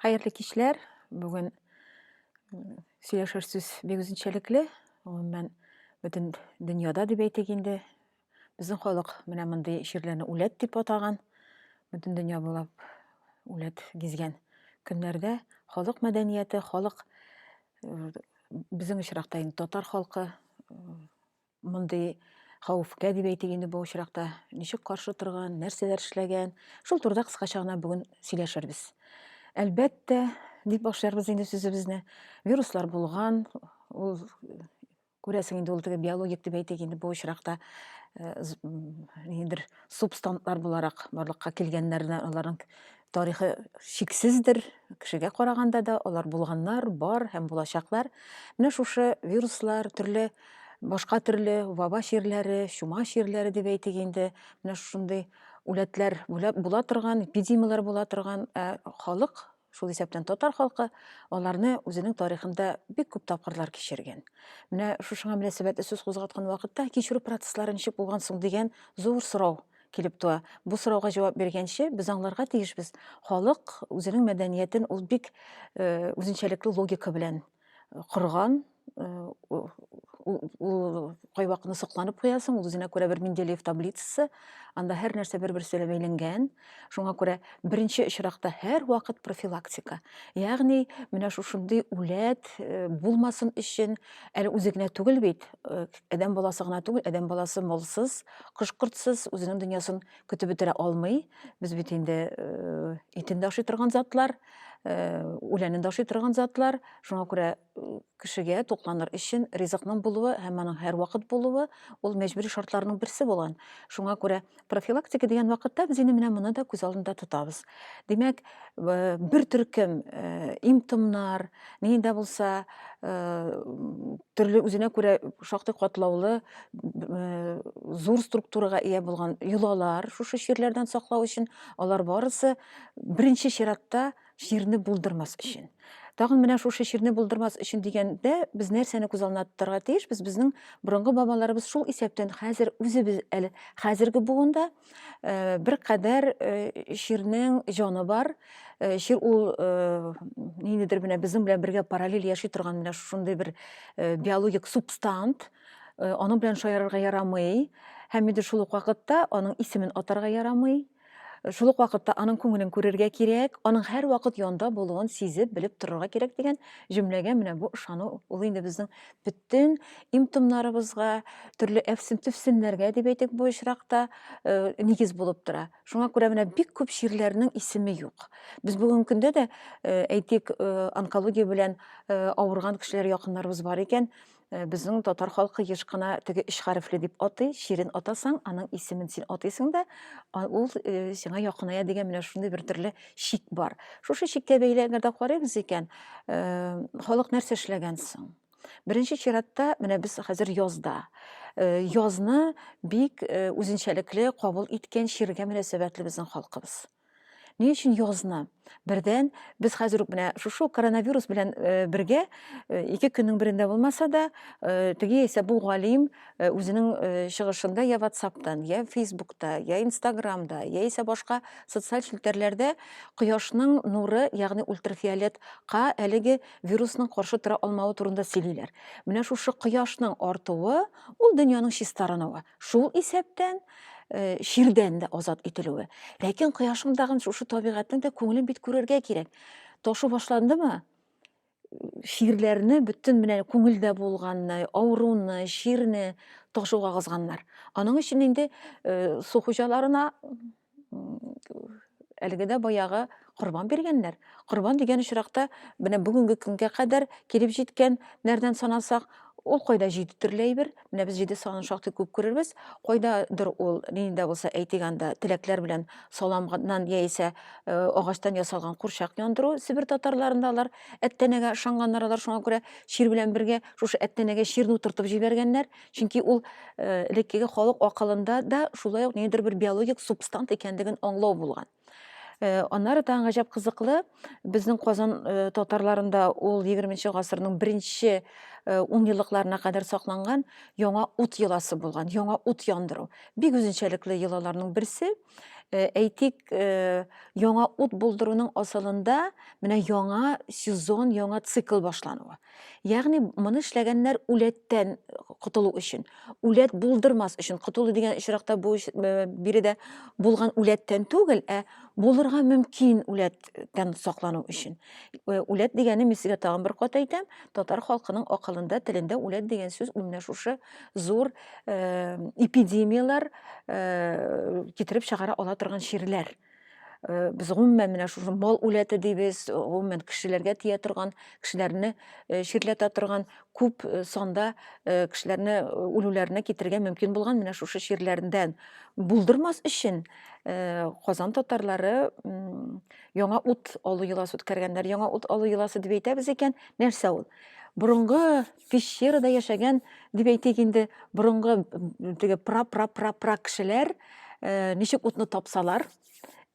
Хәерле кичләр. Бүген сөйләшер сүз бик үзенчәлекле. Гомумән, бөтен дөньяда дип әйтик инде. Безнең халык менә мондый чирләрне үләт дип атаган. Бөтен дөнья буйлап үләт гизгән көннәрдә халык мәдәнияте, халык э, безнең очракта инде татар халкы э, Мондый хәвефкә дип әйтик инде бу очракта ничек каршы торган, нәрсәләр эшләгән, шул турыда кыскача гына бүген сөйләшербез. Әлбәттә, дип башларбыз инде сүзебезне. Вируслар булган, ул күрәсең инде ул теге биологик дип әйтик инде бу очракта э, ниндидер субстантлар буларак барлыкка килгәннәрдән аларның Тарихы чиксездер, кешегә караганда да алар булганнар, бар һәм булачаклар. Менә шушы вируслар, төрле башка төрле ваба чирләре, чума чирләре дип әйтик инде, менә шундый үләтләр була торган, эпидемияләр була торган, ә халык, шул исәптән татар халкы, аларны үзенең тарихында бик күп тапкырлар кичергән. Менә шушыңа мөнәсәбәтле сүз кузгаткан вакытта кичерү процесслары ничек булган соң дигән зур сорау килеп туа. Бу сорауга җавап биргәнче, без аңларга тиешбез, халык үзенең мәдәниятен ул бик э, үзенчәлекле логика белән э, корган, э, ул кайвакытны сокланып куясың, ул үзенә күрә бер Менделеев таблицасы, анда һәр нәрсә бер-берсе белән бәйләнгән. Шуңа күрә беренче очракта һәр вакыт профилактика. Ягъни, менә шушындый үләт булмасын өчен, әле үзе генә түгел бит, адәм баласы гына түгел, адәм баласы молсыз, Кош-кортсыз үзенең дөньясын көтеп бетерә алмый. Без бит инде э, итен дә ашый торган затлар, э, үләнен дә ашый торган затлар. Шуңа күрә э, кешегә тукланыр өчен ризыкның булуы һәм аның һәрвакыт булуы ул мәҗбүри шартларның берсе булган. Шуңа күрә профилактика дигән вакытта без инде менә моны да күз алдында тотабыз. Димәк, э, бер төркем э, имтомнар, нидә булса, э, төрле үзенә күрә шактый катлаулы зур структурага ия булган йолалар шушы чирләрдән саклау өчен алар барысы беренче чиратта чирне булдырмас өчен тагын менә шушы чирне булдырмас өчен дигәндә без нәрсәне күз алдына тотарга тиешбез безнең борынгы бабаларыбыз шул исәптән хәзер үзебез әле хәзерге буында Э, бир кадәр э, ширнең җаны бар э, шир ул ниндидер менә безнең белән бергә параллель яши торган менә шундый бер биологик субстант аның белән шаярырга ярамый һәм инде шул ук вакытта аның исемен атарга ярамый шул ук вакытта аның күңелен күрергә кирәк аның һәр вакыт янда булуын сизеп белеп торырга кирәк дигән җөмләгә менә бу ышану ул инде безнең бөтен имтомнарыбызга, төрле әфсем-төфсемнәргә дип әйтик бу очракта, нигез булып тора. Шуңа күрә менә бик күп чирләрнең исеме юк. Без бүгенге көндә дә, әйтик, онкология белән авырган кешеләр якыннарыбыз бар икән, безнең татар халкы еш кына теге өч хәрефле дип атый, чирен атасаң, аның исемен син атыйсың да, ул сиңа якыная дигән менә шундый бер төрле шик бар. Шушы шиккә бәйле әгәр дә карыйбыз икән, халык нәрсә эшләгән соң? Беренче чиратта менә без хәзер язда. Язны бик үзенчәлекле кабул иткән чиргә мөнәсәбәтле безнең халкыбыз. Ни өчен язны? Бердән, без хәзер үк менә шушы коронавирус белән бергә ике көннең берендә булмаса да, теге яисә бу галим Э, үзенең э, чыгышында я ватсаптан я фейсбукта я инстаграмда яисә башка социаль челтәрләрдә кояшның нуры ягъни ультрафиолетка әлеге вирусның каршы тора алмавы турында сөйлиләр менә шушы кояшның артуы ул дөньяның чистарынуы шул исәптән э, чирдән дә азат ителүе ләкин кояшның тагын шушы табигатьнең дә күңелен бит күрергә кирәк ташу башландымы шигырьләрне бөтен менә күңелдә булганны, авыруны, чирне ташуга кызганнар. Аның өчен инде э, су хуҗаларына әлеге дә баягы корбан биргәннәр. Корбан дигән очракта менә бүгенге көнгә кадәр килеп җиткән нәрдән санасак, ул кайда җиде төрле әйбер, Менә без җиде санын шактый күп күрербез. Кайдадыр ул нинди дә булса әйтик анда теләкләр белән саламнан яисә э, агачтан ясалган курчак яндыру Себер татарларында алар әттәнәгә ышанганнар алар шуңа күрә чир белән бергә шушы әттәнәгә чирне утыртып җибәргәннәр. Чөнки ул э, элеккеге халык акылында да шулай ук ниндидер бер биологик субстант икәнлеген аңлау булган. Э, аннары тагын гаҗәп кызыклы безнең казан э, татарларында ул 20 гасырның беренче э, унъеллыкларына кадәр сакланган яңа ут йоласы булган яңа ут яндыру бик үзенчәлекле йолаларның берсе әйтик яңа ут булдыруның асылында менә яңа сезон яңа цикл башлануы Ягъни моны эшләгәннәр үләттән котылу өчен. Үләт булдырмас өчен котылу дигән очракта бу э, биредә булган үләттән түгел, ә булырга мөмкин үләттән саклану өчен. Э, үләт дигәне мин сезгә тагын бер кат әйтәм, татар халкының акылында, телендә үләт дигән сүз менә шушы зур э, эпидемияләр китереп чыгара ала торган чирләр. Э, без гомумән менә шушы мал үләте дибез э, гомумән кешеләргә тия торган кешеләрне э, чирләтә торган күп санда кешеләрне үлүләренә китерергә мөмкин булган менә шушы чирләрдән булдырмас өчен казан татарлары яңа ут алу йоласы үткәргәннәр яңа ут алу йоласы дип әйтәбез икән нәрсә ул борынгы пещерада яшәгән дип әйтик инде борынгы теге пра пра пра пра кешеләр э, ничек утны тапсалар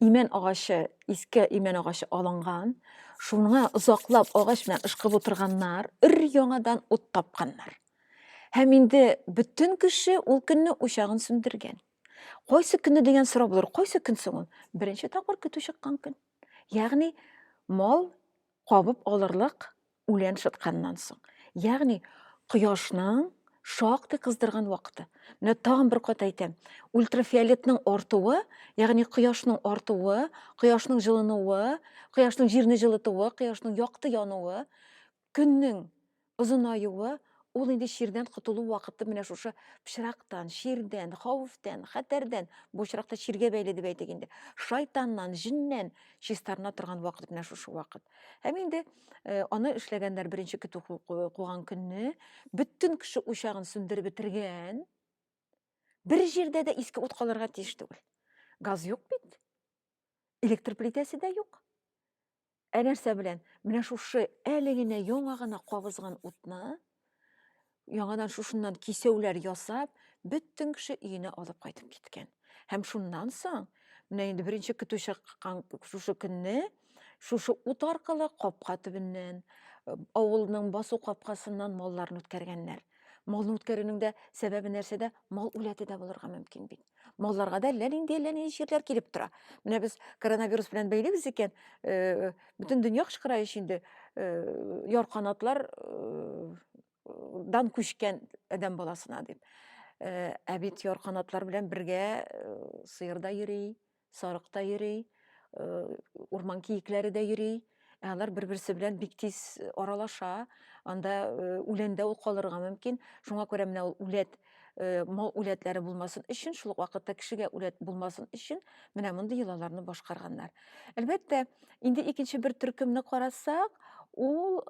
имән агачы иске имән агачы алынган шуңа озаклап агач белән ышкып утырганнар өр яңадан ут тапканнар һәм инде бөтен кеше ул көнне учагын сүндергән кайсы көнне дигән сорау булыр кайсы көн соң ул беренче тапкыр көтү чыккан көн ягъни мал кабып алырлык үлән шытканнан соң. Ягъни кояшның шактый кыздырган вакыты. Менә тагын бер кат әйтәм, ультрафиолетның артуы, ягъни кояшның артуы, кояшның җылынуы, кояшның җирне җылытуы, кояшның якты януы, көннең озынаюы Ул инде чирдән котылу вакыты менә шушы пычрактан, чирдән, хәвефтән, хәтәрдән, бу очракта чиргә бәйле дип әйтик инде, шайтаннан, җиннән чистарына торган вакыт менә шушы вакыт. Һәм инде э, аны эшләгәннәр беренче көтү куган көнне, бөтен кеше учагын сүндереп бетергән. Бер җирдә дә иске ут калырга тиеш түгел. Газ юк бит. Электр плитәсе дә юк. Ә нәрсә белән? Менә шушы әле генә яңа гына кабызган утны яңадан шушыннан кисәүләр ясап, бөтен кеше өенә алып кайтып киткән. Һәм шуннан соң, менә инде беренче көтү чыккан шушы көнне, шушы ут аркылы капка төбеннән, э, авылның басу капкасыннан малларны үткәргәннәр. Малны үткәрүнең дә сәбәбе нәрсәдә? Мал үләте дә булырга мөмкин бит. Малларга да әллә нинди әллә нинди чирләр килеп тора. Менә без коронавирус белән бәйлибез икән, э, бөтен дөнья кычкыра ич инде. Э, ярканатлар э, дан күчкән адәм баласына дип. Э, ә бит ярканатлар белән бергә э, сыер да йөри, Сарык та йөри, урман киекләре дә йөри. Ә алар бер-берсе белән бик тиз аралаша. Анда үләндә ул калырга мөмкин. Шуңа күрә менә ул үләт, мал үләтләре булмасын өчен, шул ук вакытта кешегә үләт булмасын өчен менә мондый йолаларны башкарганнар. Әлбәттә, инде икенче бер төркемне карасак, ул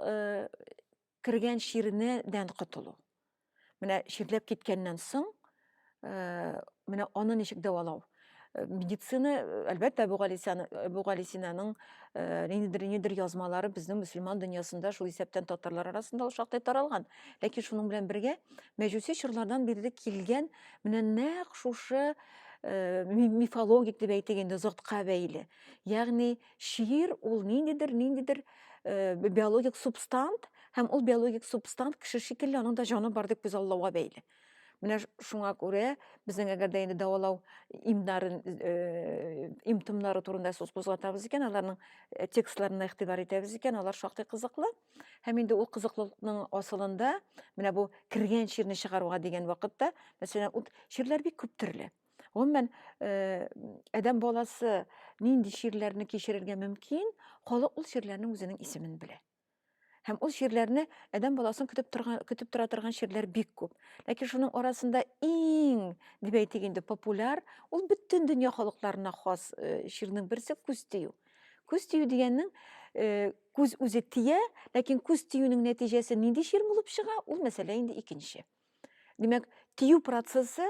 кергән чирне дән котылу. Менә чирләп киткәннән соң, э, менә аны ничек дәвалау? Э, медицина, э, әлбәттә, бу Галисяны, бу Галисинаның ниндидер ниндидер язмалары безнең мөселман дөньясында, шул исәптән татарлар арасында ул шактый таралган. Ләкин шуның белән бергә мәҗүси чорлардан бирле килгән менә нәкъ шушы мифологик дип әйтик инде, зотка бәйле. Ягъни Чир ул ниндидер, ниндидер э, биологик субстант, һәм ул биологик субстант кеше шикелле аның да җаны бар дип күзаллауга бәйле. Менә шуңа күрә безнең әгәр дә инде дәвалау имнарын э, имтымнары турында сүз кузгатабыз икән, аларның э, текстларына игътибар итәбез икән, алар шактый кызыклы. Һәм инде ул кызыклылыкның асылында менә бу кергән чирне чыгаруга дигән вакытта, мәсәлән, ут чирләр бик күп төрле. Гомумән, э, адәм баласы нинди чирләрне кичерергә мөмкин, халык ул чирләрнең үзенең исемен белә. Һәм ул чирләрне адәм баласын көтеп торган көтеп тора торган чирләр бик күп. Ләкин шуның арасында иң, дип әйтик инде, популяр, ул бөтен дөнья халыкларына хас э, чирнең берсе күз тию. Күз тию дигәннең э, күз үзе тия, ләкин күз тиюнең нәтиҗәсе нинди чир булып чыга, ул мәсьәлә инде икенче. Димәк, тию процессы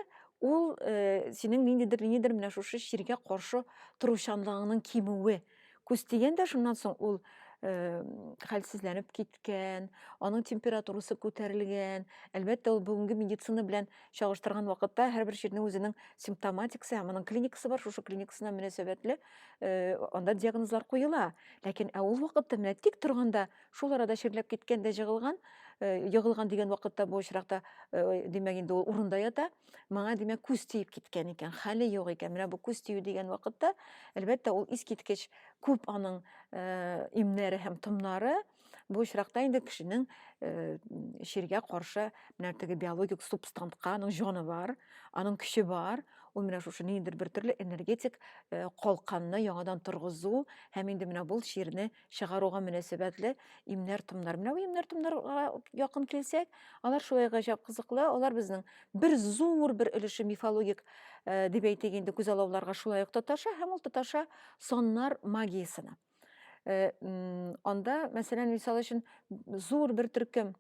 ул э, синең ниндидер ниндидер менә шушы чиргә каршы торучанлыгыңның кимүе. Күз дигәндә шуннан соң ул э, хәлсезләнеп киткән, аның температурасы күтәрелгән. Әлбәттә, ул бүгенге медицина белән чагыштырган вакытта һәрбер чирнең үзенең симптоматикасы һәм аның клиникасы бар. Шушы клиникасына мөнәсәбәтле э, анда диагнозлар куела. Ләкин ә ул вакытта менә тик торганда Шул арада чирләп киткән дә җыгылган, егылган дигән вакытта бу очракта, димәк, инде ул урында ята. Моңа, димәк, күз тиеп киткән икән, хәле юк икән. Менә бу күз тию дигән вакытта, әлбәттә, ул искиткеч күп аның имнәре һәм томнары. Бу очракта инде кешенең чиргә каршы менә теге биологик субстантка аның җаны бар, аның көче бар. Ул менә шушы ниндидер бер төрле энергетик калканны яңадан торгызу һәм инде менә бул чирне чыгаруга мөнәсәбәтле имнәр-томнар. Менә бу имнәр-томнарга якын килсәк, алар шулай гаҗәп кызыклы, алар безнең бер зур бер өлеше мифологик э, дип әйтик инде күзаллауларга шулай ук тоташа һәм ул тоташа соннар магиясенә. Э, анда, мәсәлән, мисал өчен зур бер төркем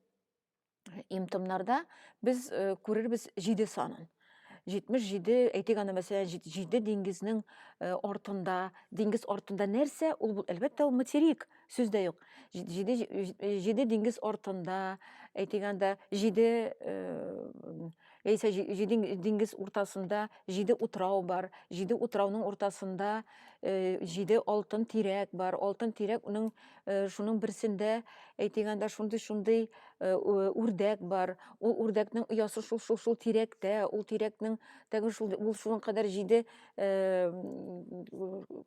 имтымнарда без э, күрербез җиде санын. 77 әйтик аны мәсәлән җиде диңгезнең э, артында диңгез артында нәрсә ул бул әлбәттә ул материк сүз дә юк җиде җиде диңгез артында әйтик анда җиде э, Яисә диңгез уртасында җиде утрау бар. Җиде утрауның уртасында э, җиде алтын тирәк бар. Алтын тирәк уның э, шуның берсендә әйтик анда шундый шундый э, үрдәк бар. Ул үрдәкнең оясы шул шул шул тирәктә, ул тирәкнең тәген шул ул шуның кадәр җиде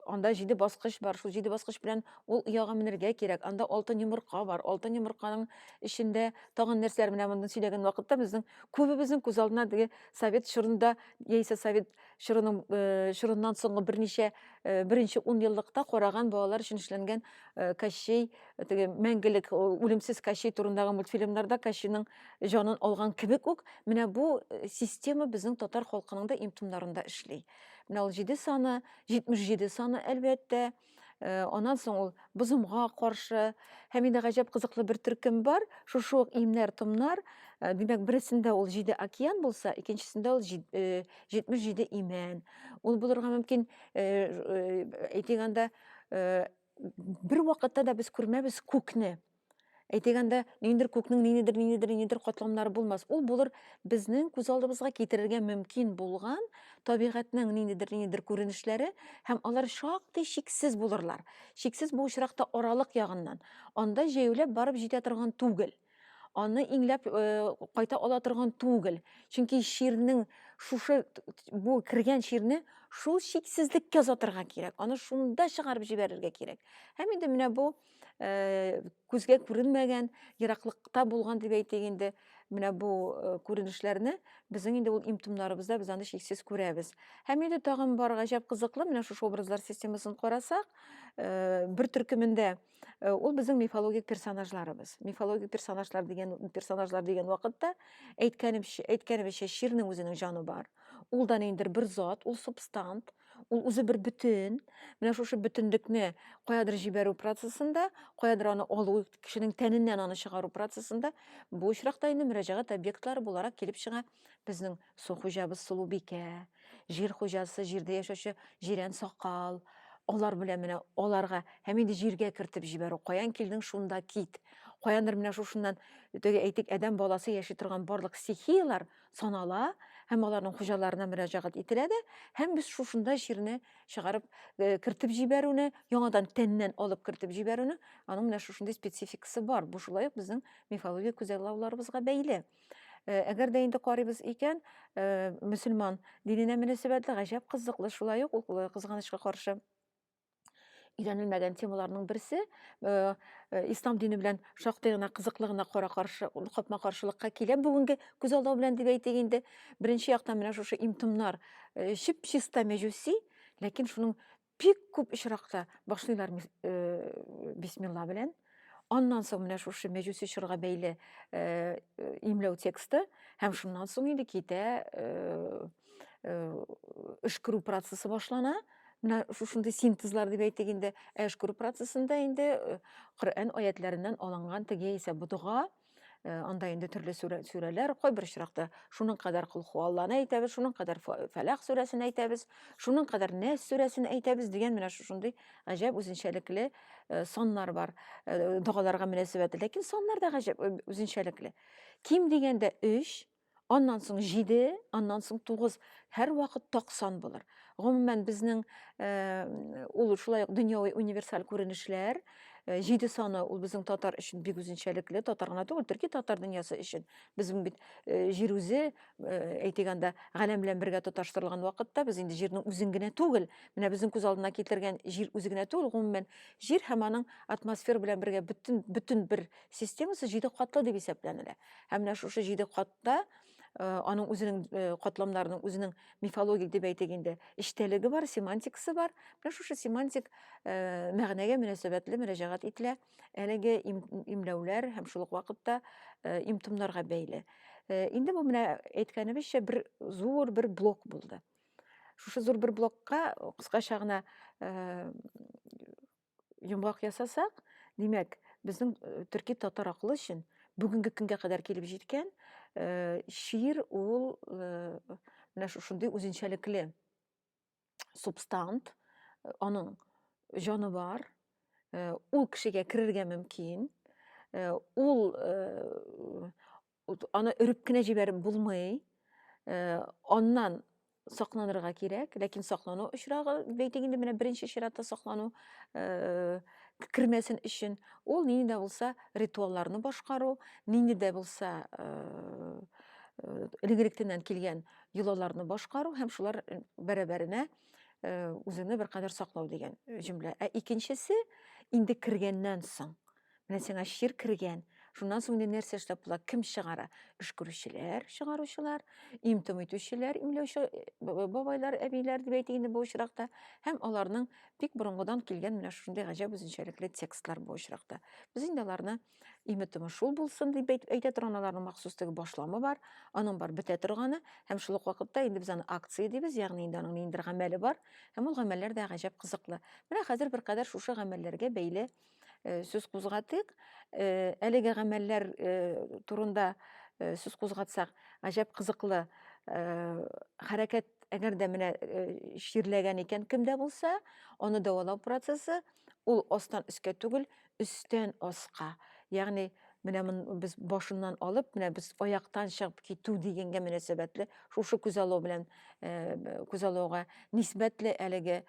анда җиде баскыч бар. Шул җиде баскыч белән ул ояга менергә кирәк. Анда алтын йомырка бар. Алтын йомырканың эчендә тагын нәрсәләр менә мондый сөйләгән вакытта безнең күбебезнең күз алдына теге совет чорында яисә совет чорының э, чорыннан соңгы берничә э, беренче ун еллыкта караган балалар өчен эшләнгән э, Кащей теге мәңгелек үлемсез Кащей турындагы мультфильмнарда Кащейның җанын алган кебек үк менә бу система безнең татар халкының да имтумнарында эшли. Менә ул 7 саны, 77 саны әлбәттә, Э, аннан соң ул бозымга каршы һәм инде гаҗәп кызыклы бер төркем бар шушы ук имнәр томнар э, димәк берсендә ул җиде океан булса икенчесендә ул э, җитмеш җиде имән ул булырга мөмкин әйтик анда бер вакытта да без күрмәбез күкне Әйтик анда ниндидер күкнең ниндидер ниндидер ниндидер катламнары булмас. Ул булыр безнең күз алдыбызга китерергә мөмкин булган табигатьнең ниндидер ниндидер күренешләре һәм алар шактый чиксез булырлар. Чиксез бу очракта аралык ягыннан. Анда җәяүләп барып җитә торган түгел. Аны иңләп э, кайта ала торган түгел. Чөнки чирнең шушы бу кергән чирне шул чиксезлеккә озатырга кирәк. Аны шунда чыгарып җибәрергә кирәк. Һәм инде менә бу күзгә күренмәгән ераклыкта булган дип әйтик инде менә бу күренешләрне безнең инде ул имтумнарыбызда без аны чиксез күрәбез һәм инде тагын бар гаҗәп кызыклы менә шушы образлар системасын карасак бер төркемендә ул безнең мифологик персонажларыбыз мифологик персонажлар дигән персонажлар дигән вакытта әйткәнемчә әйткәнебезчә чирнең үзенең җаны бар ул да ниндидер бер зат ул субстант Ул үзе бер бөтен. Менә шушы бөтенлекне каядыр җибәрү процессында, каядыр аны алу, кешенең тәненнән аны чыгару процессында бу очракта инде мөрәҗәгать объектлары буларак килеп чыга безнең су хуҗабыз Сылубикә, җир хуҗасы, җирдә яшәүче җирән сакал, алар белән менә аларга һәм инде җиргә кертеп җибәрү, каян килдең, шунда кит. Каяндыр менә шушыннан, теге әйтик, адәм баласы яши торган барлык стихияләр санала һәм аларның хуҗаларына мөрәҗәгать ителә дә һәм без шушында җирне чыгарып э, кертеп җибәрүне яңадан тәннән алып кертеп җибәрүне аның менә шушындый спецификасы бар бу шулай ук безнең мифология күзаллауларыбызга бәйле э, әгәр дә инде карыйбыз икән э, мөселман диненә мөнәсәбәтле гаҗәп кызыклы шулай ук ул кызганычка каршы өйрәнелмәгән темаларның берсе э, э, ислам дине белән шактый гына кызыклы гына кара каршы капма каршылыкка килә бүгенге күз алдау белән дип әйтик инде беренче яктан менә шушы имтымнар э, чип чиста мәҗүси ләкин шуның бик күп очракта башлыйлар бисмилла белән Аннан соң менә шушы мәҗүс чорга бәйле э, э, имләү тексты һәм шуннан соң инде китә э, эш күрү процессы башлана. Менә шушындый синтезлар дип әйтик инде. Ә эш күрү процессында инде Коръән аятләреннән алынган теге исә бу дога Э, анда инде төрле сүрәләр кайбер очракта шуның кадәр кол хуалланы әйтәбез шуның кадәр фәләх сүрәсен әйтәбез шуның кадәр нәс сүрәсен әйтәбез дигән менә шушындый гаҗәп үзенчәлекле э, саннар бар э, догаларга мөнәсәбәтле ләкин саннар да гаҗәп үзенчәлекле ким дигәндә өч аннан соң җиде, аннан соң тугыз, һәрвакыт токсан булыр. Гомумән, безнең э, ул шулай ук дөньяви универсаль күренешләр, э, җиде саны ул безнең татар өчен бик үзенчәлекле, татар гына түгел, төрки татар дөньясы өчен. Безнең бит э, җир үзе, әйтик анда, галәм белән бергә тоташтырылган вакытта, без инде җирнең үзен генә түгел, менә безнең күз алдына китергән җир үзе генә түгел, гомумән, җир һәм аның атмосфера белән бергә бөтен бөтен бер Системасы җиде катлы дип исәпләнелә. Һәм менә шушы җиде катта Э, аның үзенең э, катламнарының үзенең мифологик дип әйтик инде эчтәлеге бар семантикасы бар менә шушы семантик э, мәгънәгә мөнәсәбәтле мөрәҗәгать ителә әлеге имләүләр һәм шул ук вакытта имтымнарга бәйле инде бу менә әйткәнебезчә бер зур бер блок булды шушы зур бер блокка кыскача гына йомгак ясасак, димәк, безнең э, төрки татар акылы өчен бүгенге көнгә кадәр килеп җиткән э, шиир ул э, менә шушындый үзенчәлекле субстант, аның җаны бар, ул кешегә керергә мөмкин, ул Аны өреп кенә җибәреп булмый. Э, аннан сакланырга кирәк, ләкин саклану очрагы, бәйтик инде менә беренче чиратта саклану э, кермәсен өчен, ул нинди дә булса ритуалларны башкару, нинди дә булса э, элегректеннән килгән йолаларны башкару һәм шулар бәрабәренә үзеңне беркадәр саклау дигән җөмлә. Ә икенчесе инде кергәннән соң Менә сиңа чир кергән. Шуннан соң инде нәрсә эшләп була? Кем чыгара? Өшкерүчеләр, чыгаручылар, им-том итүчеләр, имләүче э, бабайлар, әбиләр дип әйтик инде бу очракта. Һәм аларның бик борынгыдан килгән менә шушындый гаҗәп үзенчәлекле текстлар бу очракта. Без инде аларны име-томы шул булсын дип әйтә торган аларның махсус теге башламы бар, аның бар бетә торганы һәм шул ук вакытта инде без аны акция дибез, ягъни инде аның ниндидер гамәле бар һәм ул гамәлләр дә гаҗәп кызыклы. Менә хәзер беркадәр шушы гамәлләргә бәйле Э, сүз кузгатыйк э, әлеге гамәлләр э, турында сүз кузгатсак гаҗәп кызыклы хәрәкәт әгәр дә менә чирләгән икән кемдә булса аны дәвалау процессы ул астан өскә түгел өстән аска ягъни менә без башыннан алып менә без аяктан чыгып китү дигәнгә мөнәсәбәтле шушы күз алу белән күз алуга нисбәтле әлеге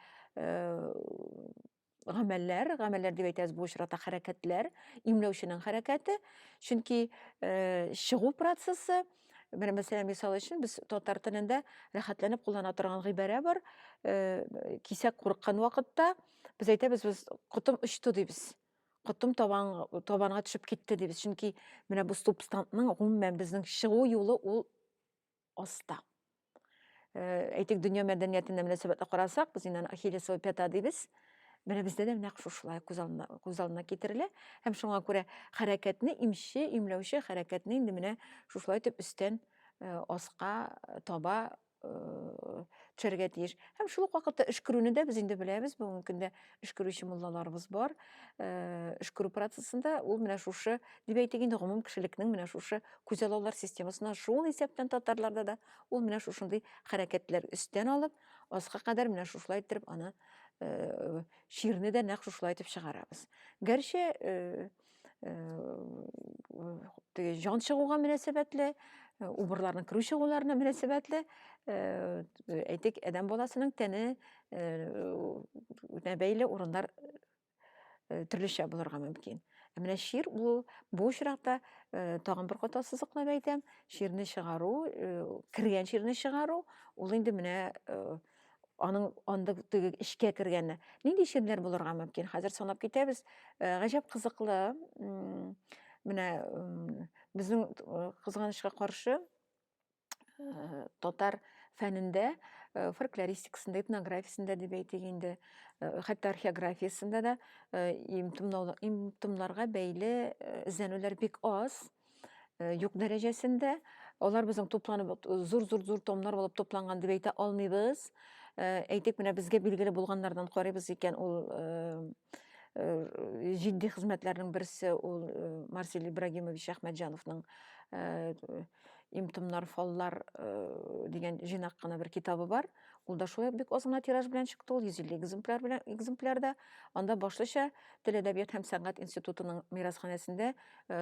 гамәлләр, гамәлләр дип әйтәбез бу очракта хәрәкәтләр, имләүченең хәрәкәте, чөнки э, чыгу процессы Менә мәсәлән, мисал өчен без татар телендә рәхәтләнеп куллана торган гыйбарә бар. Э, кисәк курыккан вакытта без әйтәбез, без котым очты дибез. Котым табан табанга төшеп китте дибез. Чөнки менә бу субстантның гомумән безнең чыгу юлы ул оста. Э, әйтик, дөнья мәдәниятенә мөнәсәбәтле карасак, без инде ахиллес пята дибез. Менә бездә дә нәкъ шушылай күз алдына, күз алдына китерелә. Һәм шуңа күрә хәрәкәтне имче, имләүче хәрәкәтне инде менә шушылай итеп өстән э, аска э, таба төшәргә тиеш. Һәм шул ук вакытта өшкерүне дә без инде беләбез, бүгенге көндә өшкерүче муллаларыбыз бар. Өшкерү процессында ул менә шушы, дип әйтик инде, гомум кешелекнең менә шушы күзаллаулар системасына шул исәптән татарларда да ул менә шушындый хәрәкәтләр өстән алып, аска кадәр менә шушылай иттереп аны чирне дә нәкъ шушылай итеп чыгарабыз. Гәрчә теге җан чыгуга мөнәсәбәтле убырларның керү чыгуларына мөнәсәбәтле әйтик адәм баласының тәне бәйле урыннар төрлечә булырга мөмкин ә менә чир ул бу очракта тагын бер кат ассызыклап әйтәм чирне чыгару кергән чирне чыгару ул инде менә аның анда теге эчкә кергәне нинди чирләр булырга мөмкин хәзер санап китәбез э, гаҗәп кызыклы менә безнең э, кызганычка каршы э, татар фәнендә фольклористикасында этнографиясендә дип әйтик инде хәтта археографиясендә дә имтымнарга бәйле эзләнүләр бик аз Э, юк дәрәҗәсендә алар безнең тупланып э, зур зур зур томнар булып тупланган дип әйтә алмыйбыз э, әйтик менә безгә билгеле булганнардан карыйбыз икән ул җитди хезмәтләрнең берсе ул марсель ибрагимович әхмәтҗановның имтомнар фаллар дигән җыйнак кына бер китабы бар Ул да шулай бик аз гына тираж белән чыкты, ул 150 экземпляр белән экземплярда. Анда башлыча Тел әдәбият һәм сәнгать институтының мирасханәсендә э,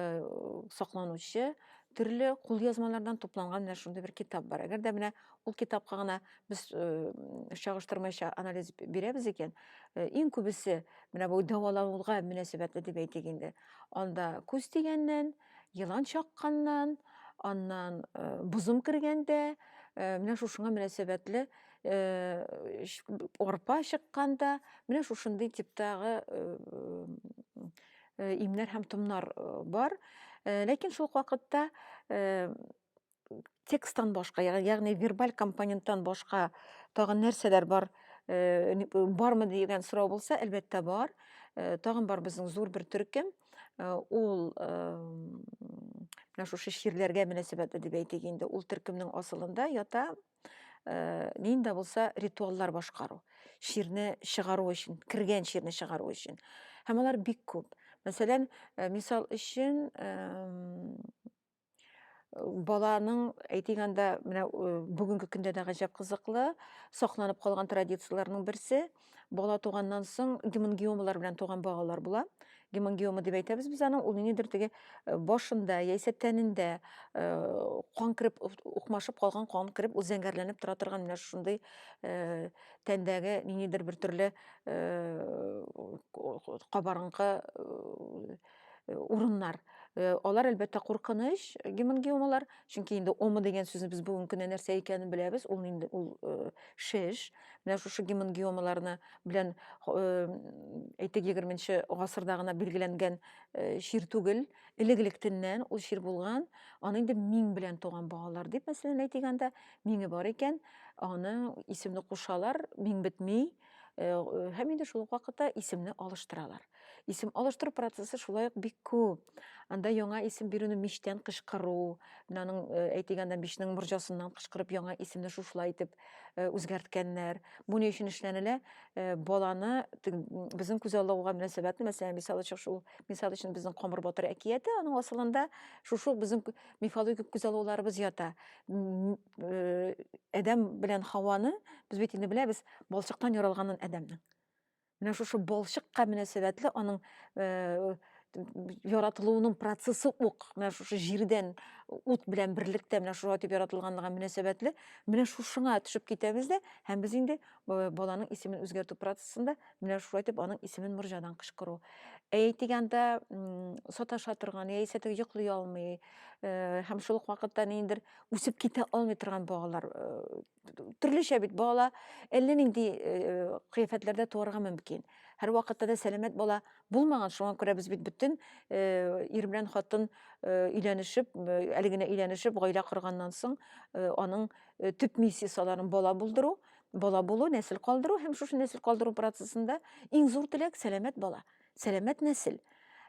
сакланучы төрле кулъязмалардан тупланган менә шундый бер китап бар. Әгәр дә менә ул китапка гына без э, чагыштырмача анализ бирәбез икән, э, иң күбесе менә бу дәвалануга мөнәсәбәтле дип әйтик инде. Анда күз дигәннән, Елан чакканнан, аннан э, бозым кергәндә, э, менә шушыңа мөнәсәбәтле э, арпа чыкканда, менә шушындый типтагы имнәр һәм томнар бар. Ләкин шул вакытта тексттан башка, ягъни вербаль компоненттан башка тагын нәрсәләр бар, э, бармы дигән сорау булса, әлбәттә бар. Э, тагын бар безнең зур бер төркем. Э, ул менә шушы ширләргә мөнәсәбәтле дип әйтик инде. Ул төркемнең асылында ята нинди булса ритуаллар башкару. Ширне чыгару өчен, кергән ширне чыгару өчен. Һәм алар бик күп. Мәсәлән, мисал өчен, баланың әйтик анда менә э, бүгенге көндә дә гаҗәп кызыклы сакланып калган традицияләрнең берсе бала туганнан соң гемангиомалар белән туган балалар була гемангиома дип әйтәбез без аны ул ниндидер теге э, башында яисә тәнендә э, кан кереп укмашып калган кан кереп ул зәңгәрләнеп тора торган менә шундый тәндәге ниндидер бер төрле кабарынкы э, урыннар. Э, алар әлбәттә куркыныч гемангиомалар, чөнки инде ома дигән сүзне без бүгенге көндә нәрсә икәнен беләбез, ул инде ул э, шеш. Менә шушы гемангиомаларны белән әйтик 20-нче гасырда гына билгеләнгән чир түгел, элек-электеннән ул чир булган, аны инде миң белән туган багалар дип мәсәлән әйтик анда, миңе бар икән, аны исемне кушалар, миң бетми, һәм инде шул ук вакытта исемне алыштыралар. Исем алыштыру процессы шулай ук бик күп. Анда яңа исем бирүне мичтән кычкыру, менә аның э, әйтегәндә мичнең морҗасыннан кычкырып яңа исемне шушылай итеп э, үзгәрткәннәр. Бу ни өчен эшләнелә? Э, баланы безнең күз алуга мөнәсәбәтле, мәсәлән, мисал өчен шул мисал өчен безнең Камыр батыр әкияте, аның асылында шушы безнең мифологик күз алуларыбыз ята. Адәм белән Хаваны без бит инде беләбез, балчыктан яралганын Адәмнең. Менә шушы балчыкка мөнәсәбәтле аның э, яратылуының процессы ук менә шушы җирдән ут белән берлектә менә шулай итеп яратылганлыгы мөнәсәбәтле менә шушыңа төшеп китәбез дә һәм без инде э, баланың исемен үзгәртү процессында менә шулай итеп аның исемен морҗадан кычкыру әйтик анда саташа торган яисә теге йоклый алмый э, һәм шул ук вакытта ниндидер үсеп китә алмый торган балалар э, төрлечә бит бала әллә нинди кыяфәтләрдә туарга мөмкин. Һәр вакытта да сәламәт бала булмаган, шуңа күрә без бит бөтен ир белән хатын өйләнешеп, әле генә өйләнешеп, гаилә корганнан соң аның төп миссиясаларын бала булдыру, бала булу, нәсел калдыру һәм шушы нәсел калдыру процессында иң зур теләк сәламәт бала, сәламәт нәсел.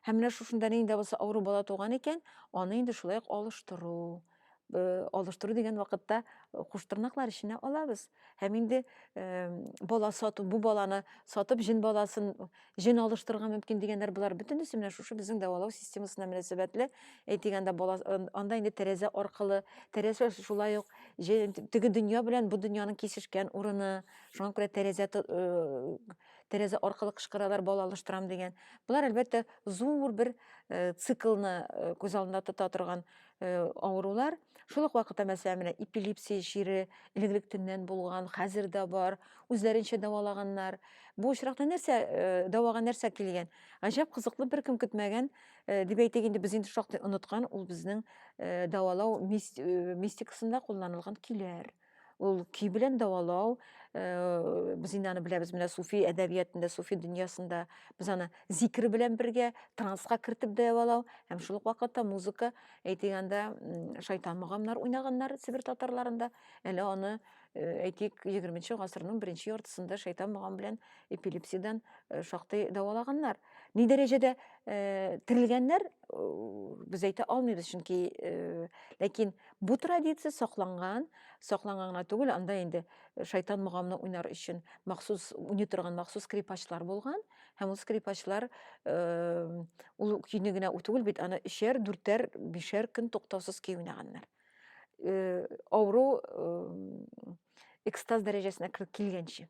Һәм менә шушында нинди булса авыру бала туган икән, аны инде шулай ук алыштыру. Э, алыштыру дигән вакытта э, куштырнаклар эченә алабыз һәм инде э, бала сату бу баланы сатып җен баласын җен алыштырырга мөмкин дигәннәр болар бөтенесе менә шушы безнең дәвалау системасына мөнәсәбәтле әйтик анда бала анда инде тәрәзә аркылы тәрәзә шулай ук теге дөнья белән бу дөньяның кисешкән урыны шуңа күрә тәрәзә тәрәзә аркылы кычкыралар бала алыштырам дигән болар әлбәттә зур бер циклны күз алдында тота торган Э, авырулар шул ук вакытта мәсәлән менә эпилепсия чире элегрәк төннән булган хәзер дә бар үзләренчә дәвалаганнар бу очракта нәрсә э, дәвага нәрсә килгән гаҗәп кызыклы беркем көтмәгән э, дип әйтик инде без инде шактый оныткан ул безнең дәвалау мистикасында кулланылган көйләр ул көй белән дәвалау э, без инде аны беләбез менә суфи әдәбиятында суфи дөньясында без аны зикер белән бергә трансқа кертеп дәвалау һәм шул ук вакытта музыка әйтик анда шайтан мөгамнар уйнаганнар сибир татарларында әле аны э, әйтик егерменче гасырның беренче яртысында шайтан мөгам белән эпилепсиядән э, шактый дәвалаганнар ни дәрәҗәдә терелгәннәр без әйтә алмыйбыз чөнки ләкин Бу традиция сакланган, сакланган гына түгел, анда инде э, шайтан мугамны уйнар өчен махсус уйный торган махсус скрипачлар булган һәм ул скрипачлар э, ул көйне генә түгел бит, аны өчәр, дүртәр, бишәр көн туктаусыз көй уйнаганнар. Э, авыру экстаз дәрәҗәсенә килгәнче.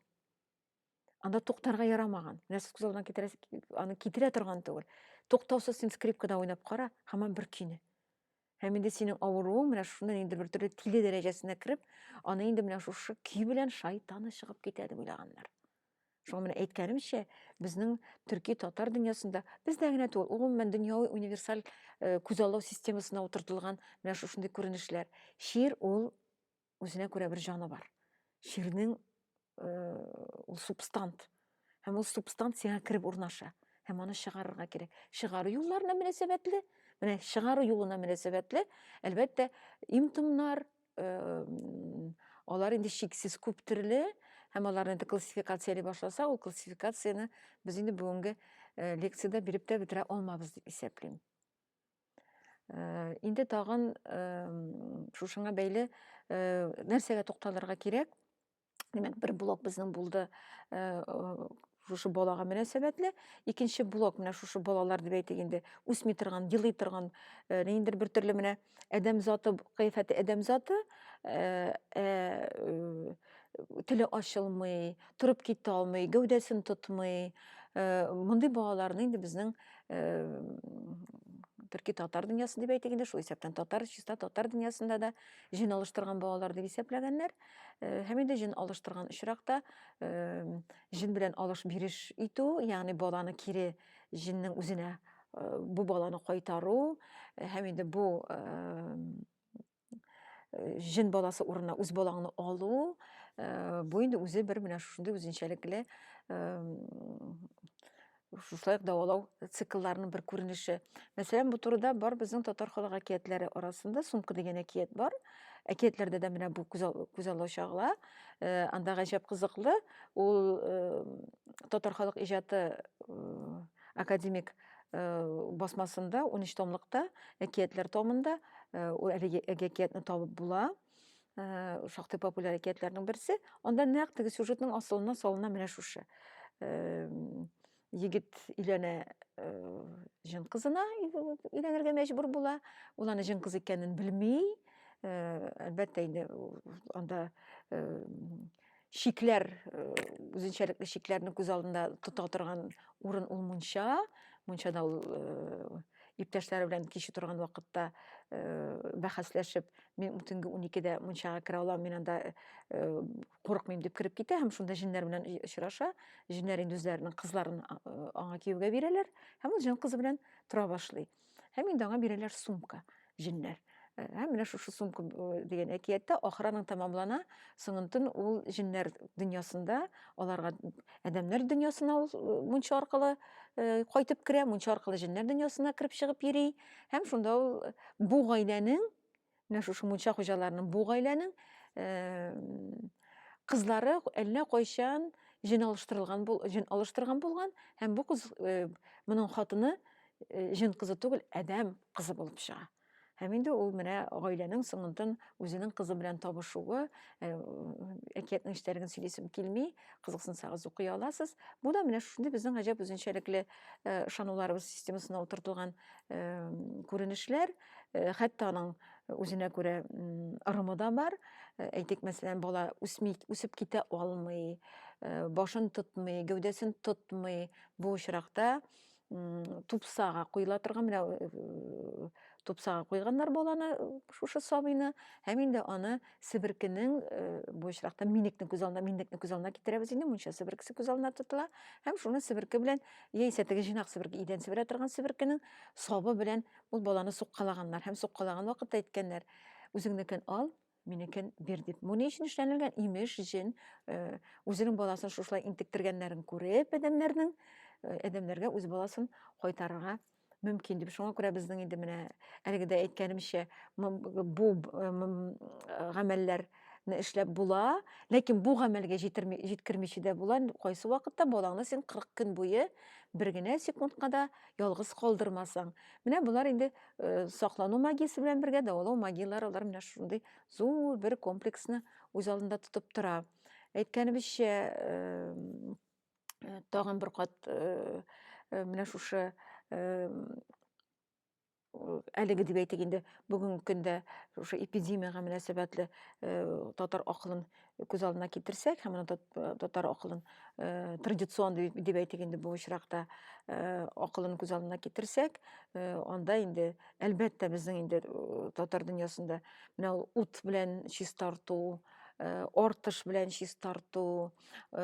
Анда туктарга ярамаган. Менә сез күзалдына китерәс, аны китерә торган түгел. Туктаусыз син скрипкада уйнап кара, һаман бер көйне. Һәм инде синең авыруың менә шуннан инде бер төрле тиле дәрәҗәсенә кереп, аны инде менә шушы көй белән шайтаны чыгып китә дип уйлаганнар. Шуңа менә әйткәнемчә, безнең төрки татар дөньясында бездә генә түгел, гомумән дөньяви универсаль э, күзаллау системасына утыртылган менә шушындый күренешләр. Шир ул үзенә күрә бер җаны бар чирнең ул субстант һәм ул субстант сиңа кереп урнаша һәм аны чыгарырга кирәк чыгару юлларына мөнәсәбәтле менә чыгару юлына мөнәсәбәтле әлбәттә имтымнар алар инде чиксез күп төрле һәм аларны инде классификацияли башласа ул классификацияне без инде бүгенге лекцияда биреп тә бетерә алмабыз дип исәплим Э, инде тагын э, шушыңа бәйле э, нәрсәгә тукталырга кирәк димәк бер блок безнең булды шушы балага мөнәсәбәтле икенче блок менә шушы балалар дип әйтик инде үсми торган елый торган ниндидер бер төрле менә адәм заты кыяфәте адәм заты ә, ә, теле ачылмый, торып китә алмый, гәүдәсен тотмый. Э, мондый балаларны инде безнең э, төрки татар дөньясы дип әйтик инде, шул исәптән татар, чиста татар дөньясында да җен алыштырган балалар дип исәпләгәннәр. Э, һәм инде җен алыштырган очракта җен белән алыш биреш итү, ягъни баланы кире җиннең үзенә бу баланы кайтару һәм инде бу җен баласы урынына үз балаңны алу бу инде үзе бер менә шушындый үзенчәлекле шушылай дәвалау циклларының бер күренеше мәсәлән бу турыда бар безнең татар халык әкиятләре арасында сумка дигән әкият бар әкиятләрдә дә менә бу күз аллау чагыла анда гаҗәп кызыклы ул татар халык иҗаты академик Э, басмасында, 13 томлыкта, әкиятләр томында, э, әлеге әкиятне табып була, э, шактый популяр әкиятләрнең берсе. Анда нәкъ теге сюжетның асылына салына менә шушы. Егет иләнә җен кызына иләнергә мәҗбүр була. Ул аны җен кыз икәнен белми. Әлбәттә инде анда чикләр, э, үзенчәлекле чикләрне күз алдында тота торган урын ул мунча. Мунчада ул э, иптәшләре белән кич утырган вакытта э, бәхәсләшеп, мин төнге 12-дә мунчага керә алам, мин анда курыкмыйм дип кереп китә һәм шунда җеннәр белән очраша. Җеннәр инде үзләренең кызларын аңа кияүгә бирәләр һәм ул җен кызы белән тора башлый. Һәм инде аңа бирәләр сумка, җеннәр. Э, һәм менә шушы сумка э, дигән әкияттә ахыраның тәмамлана, соңынтын ул җеннәр дөньясында аларга адәмнәр дөньясына ул э, мунча аркылы кайтып керә, мунча аркылы җеннәр дөньясына кереп чыгып йөри һәм шунда ул бу гаиләнең Менә шушы мунча хуҗаларының бу гаиләнең кызлары әллә кайчан җен алыштырылган бул, җен алыштырган булган һәм бу кыз э, моның хатыны э, җен кызы түгел, адәм кызы булып чыга. Һәм инде ул менә гаиләнең соңынтын үзенең кызы белән табышуы, э, әкиятнең эчтәлеген сөйлисем килми, кызыксынсагыз укый аласыз. Бу да менә шундый безнең гаҗәп үзенчәлекле ышануларыбыз системасына утыртылган күренешләр. Э, хәтта аның э, үзенә күрә ырымы да бар э, әйтик мәсәлән бала үсми үсеп китә алмый башын тотмый гәүдәсен тотмый бу очракта тупсага куела торган менә тупсага куйганнар баланы шушы сабыйны һәм инде аны себеркенең бу очракта минекне күз алдына минекне күз алдына китерәбез инде мунча себеркесе күз алдына тотыла һәм шуны себерке белән яисә теге җыйнак себерке идән себерә торган себеркенең сабы белән Ул баланы суккалаганнар һәм суккалаган вакытта әйткәннәр, үзеңнекен ал, минекен бир дип. Бу ни өчен эшләнелгән? Имеш, җен э, үзенең баласын шушылай интектергәннәрен күреп, адәмнәрнең э, адәмнәргә үз баласын кайтарырга мөмкин дип. Шуңа күрә безнең инде менә әлеге дә әйткәнемчә, бу э, гамәлләр не эшләп була, ләкин бу гамәлгә җитерми, җиткермичә дә була. Кайсы вакытта балаңны син 40 көн буе бер генә секундка да ялгыз калдырмасаң. Менә болар инде э, саклану магиясе белән бергә дәвалау магияләре алар менә шундый зур бер комплексны үз алдында тотып тора. Әйткәнебезчә, э, э, тагын бер кат э, э менә шушы э, әлеге дип әйтик инде бүгенге көндә шушы эпидемияга мөнәсәбәтле татар акылын күз алдына китерсәк һәм аны татар акылын традицион дип әйтик инде бу очракта акылын күз алдына китерсәк анда инде әлбәттә безнең инде татар дөньясында менә ут белән чистарту Э, ортыш белән чистарту э,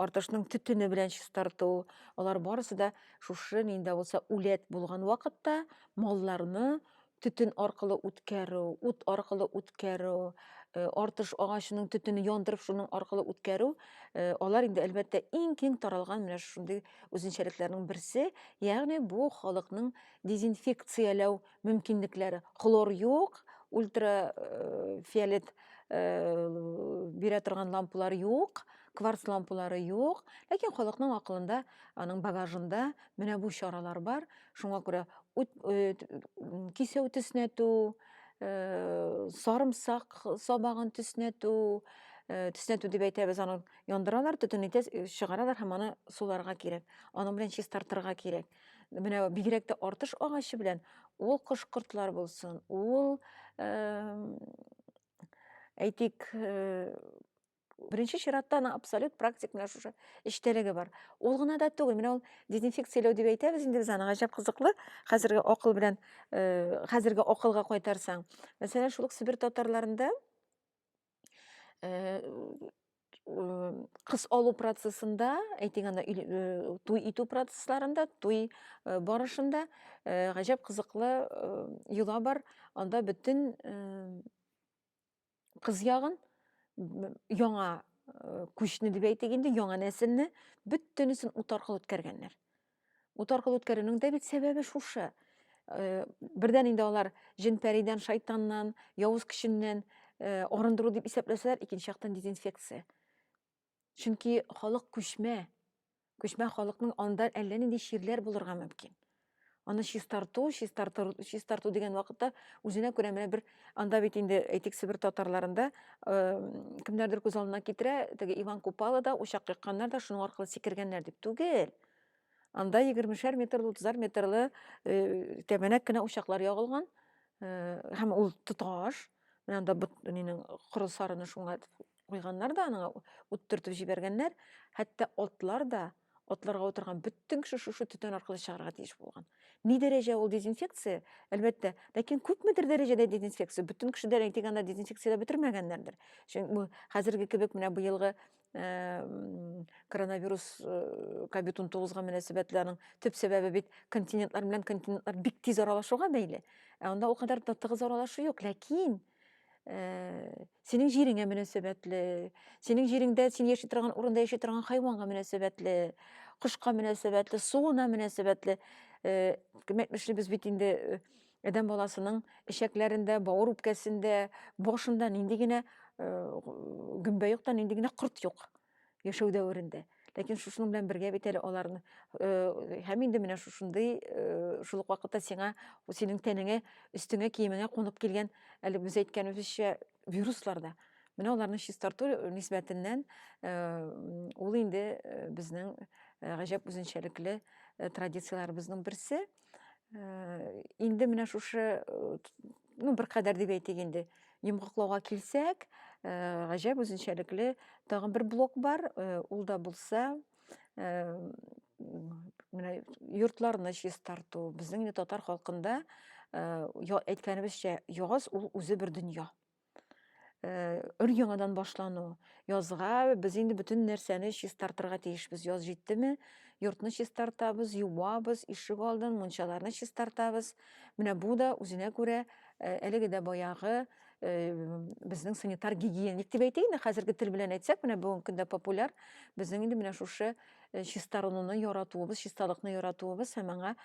ортышның төтене белән чистарту алар барысы да Шушы нинди дә булса үләт булган вакытта малларны төтен аркылы үткәрү, ут аркылы үткәрү, э, артыш агачының төтене яндырып шуның аркылы үткәрү, э, алар инде әлбәттә иң киң таралган менә шундый үзенчәлекләрнең берсе, ягъни бу халыкның дезинфекцияләү мөмкинлекләре хлор юк ультрафиолет бирә торган лампалар юк кварц лампалары юк ләкин халыкның акылында аның багажында менә бу чаралар бар шуңа күрә кисәү төснәтү сарымсак сабагын төснәтү төснәтү дип әйтәбез аны яндыралар төтен чыгаралар һәм аны суларга кирәк аның белән чистартырга кирәк менә бигрәк тә артыш агачы белән ул кош-кортлар булсын, ул әйтик, беренче чиратта аны абсолют практик менә шушы эчтәлеге бар. Ул гына да түгел, менә ул дезинфекцияләү дип әйтәбез инде без аны, гаҗәп кызыклы, хәзерге акыл белән, хәзерге акылга кайтарсаң. Мәсәлән, шул ук Себер татарларында э, кыз алу процессында әйтик анда э, туй итү процессларында туй э, барышында э, гаҗәп кызыклы йола бар анда бөтен кыз ягын яңа күчне дип әйтик инде яңа нәселне бөтенесен ут аркылы үткәргәннәр Ут аркылы үткәрүнең дә бит сәбәбе шушы. Э, бердән инде алар җен-пәридән, шайтаннан, явыз көченнән э, арындыру дип исәпләсәләр, икенче яктан дезинфекция. Чөнки халык күчмә. Күчмә халыкның анда әллә нинди чирләр булырга мөмкин. Аны чистарту, чистарту, чистарту дигән вакытта үзенә күрә менә бер анда бит инде әйтик Себер татарларында э, кемнәрдер күз алдына китерә, теге Иван Купала да, учак якканнар да шуның аркылы сикергәннәр дип түгел. Анда егермешәр метрлы, утызар метрлы э, тәбәнәк кенә учаклар ягылган. Э, һәм ул тоташ. Менә анда бут нинең коры сарыны шуңа куйганнар да, аны ут төртеп җибәргәннәр. Хәтта атлар да, атларга утырган бөтен кеше шушы төтен аркылы чыгарга тиеш булган. Ни дәрәҗә ул дезинфекция? Әлбәттә, ләкин күпмедер дәрәҗәдә дезинфекция. Бөтен кеше дә дигәндә дезинфекциядә бетермәгәннәрдер. Чөнки хәзерге кебек менә быелгы коронавирус ковид он тоғызға мөнәсәбәтле аның төп сәбәбе бит континентлар белән континентлар бик тиз аралашуга бәйле ә анда ул кадәр тыгыз аралашу юк ләкин синең җиреңә мөнәсәбәтле синең җиреңдә син яши торган урында яши торган хайванга мөнәсәбәтле кошка мөнәсәбәтле суына мөнәсәбәтле кем әйтмешли без бит инде Адәм баласының эчәкләрендә, бауыр үпкәсендә, башында нинди генә э, гөмбә юк та, нинди генә корт юк яшәү дәверендә ләкин шушының белән бергә бит әле аларны э, һәм инде менә шушындый э, шул ук вакытта сиңа синең тәнеңә өстеңә киемеңә кунып килгән әле без әйткәнебезчә вируслар да менә аларны чистарту нисбәтеннән э, ул инде безнең гаҗәп үзенчәлекле традицияләребезнең берсе Э, инде менә шушы э, ну беркадәр дип әйтик инде йомгаклауга килсәк э, гаҗәп үзенчәлекле тагын бер блок бар ул да булса менә йортларны чистарту безнең инде татар халкында әйткәнебезчә ягыз ул үзе бер дөнья Э, өр яңадан башлану язга без инде бөтен нәрсәне чистартырга тиешбез яз җиттеме йортны чистартабыз юабыз ишек алдын мунчаларны чистартабыз менә бу да үзенә күрә э, әлеге дә баягы э, безнең санитар гигиеник дип әйтәйме хәзерге тел белән әйтсәк менә бүгенге көндә популяр безнең инде менә шушы чистарынуны яратуыбыз чисталыкны яратуыбыз һәм аңа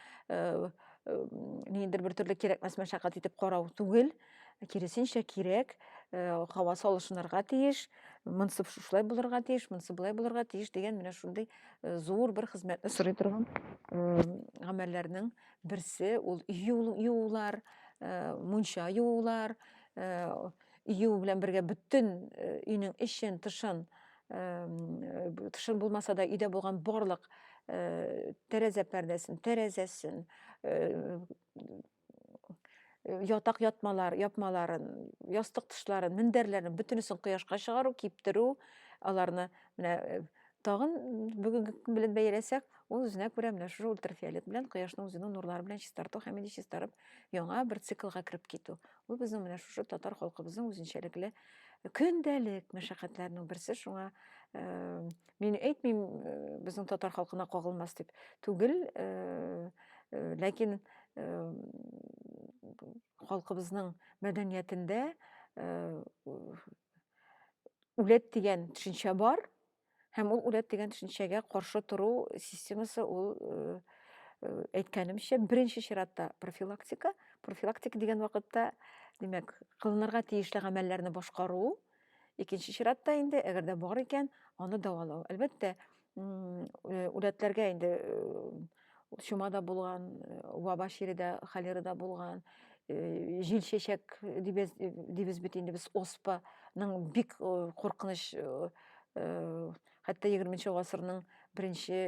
ниндидер бер төрле кирәкмәс мәшәкать итеп карау түгел киресенчә кирәк һава салышынырга тиеш монсы шушылай булырга тиеш монсы болай булырга тиеш дигән менә шундый зур бер хезмәтне сорый торган гамәлләрнең берсе ул юулар мунча юулар юу белән бергә бөтен өйнең эчен тышын тышын булмаса да өйдә булган барлык тәрәзә пәрдәсен тәрәзәсен ятак ятмалар, япмаларын, ястык тышларын, мендәрләрен бөтенесен кояшка чыгару, киптерү, аларны менә э, тагын бүгенге көн белән бәяләсәк, ул үзенә күрә менә шушы ультрафиолет белән кояшның үзенең нурлары белән чистарту һәм инде чистарып яңа бер циклга кереп китү. Ул безнең менә шушы татар халкыбызның үзенчәлекле көндәлек мәшәкатьләренең берсе шуңа э, Мин әйтмим, э, безнең татар халкына кагылмас дип. Түгел, э, э, ләкин халкыбызның мәдәниятендә үләт дигән төшенчә бар һәм ул үләт дигән төшенчәгә каршы тору системасы ул әйткәнемчә беренче чиратта профилактика профилактика дигән вакытта димәк кылынырга тиешле гамәлләрне башкару Икенче чиратта инде, әгәр дә бар икән, аны дәвалау. Әлбәттә, э, үләтләргә инде э, чума да булган, э, ваба чире дә, холера да булган, җил чәчәк дибез, дибез бит инде без оспаның бик куркыныч хәтта егерменче гасырның беренче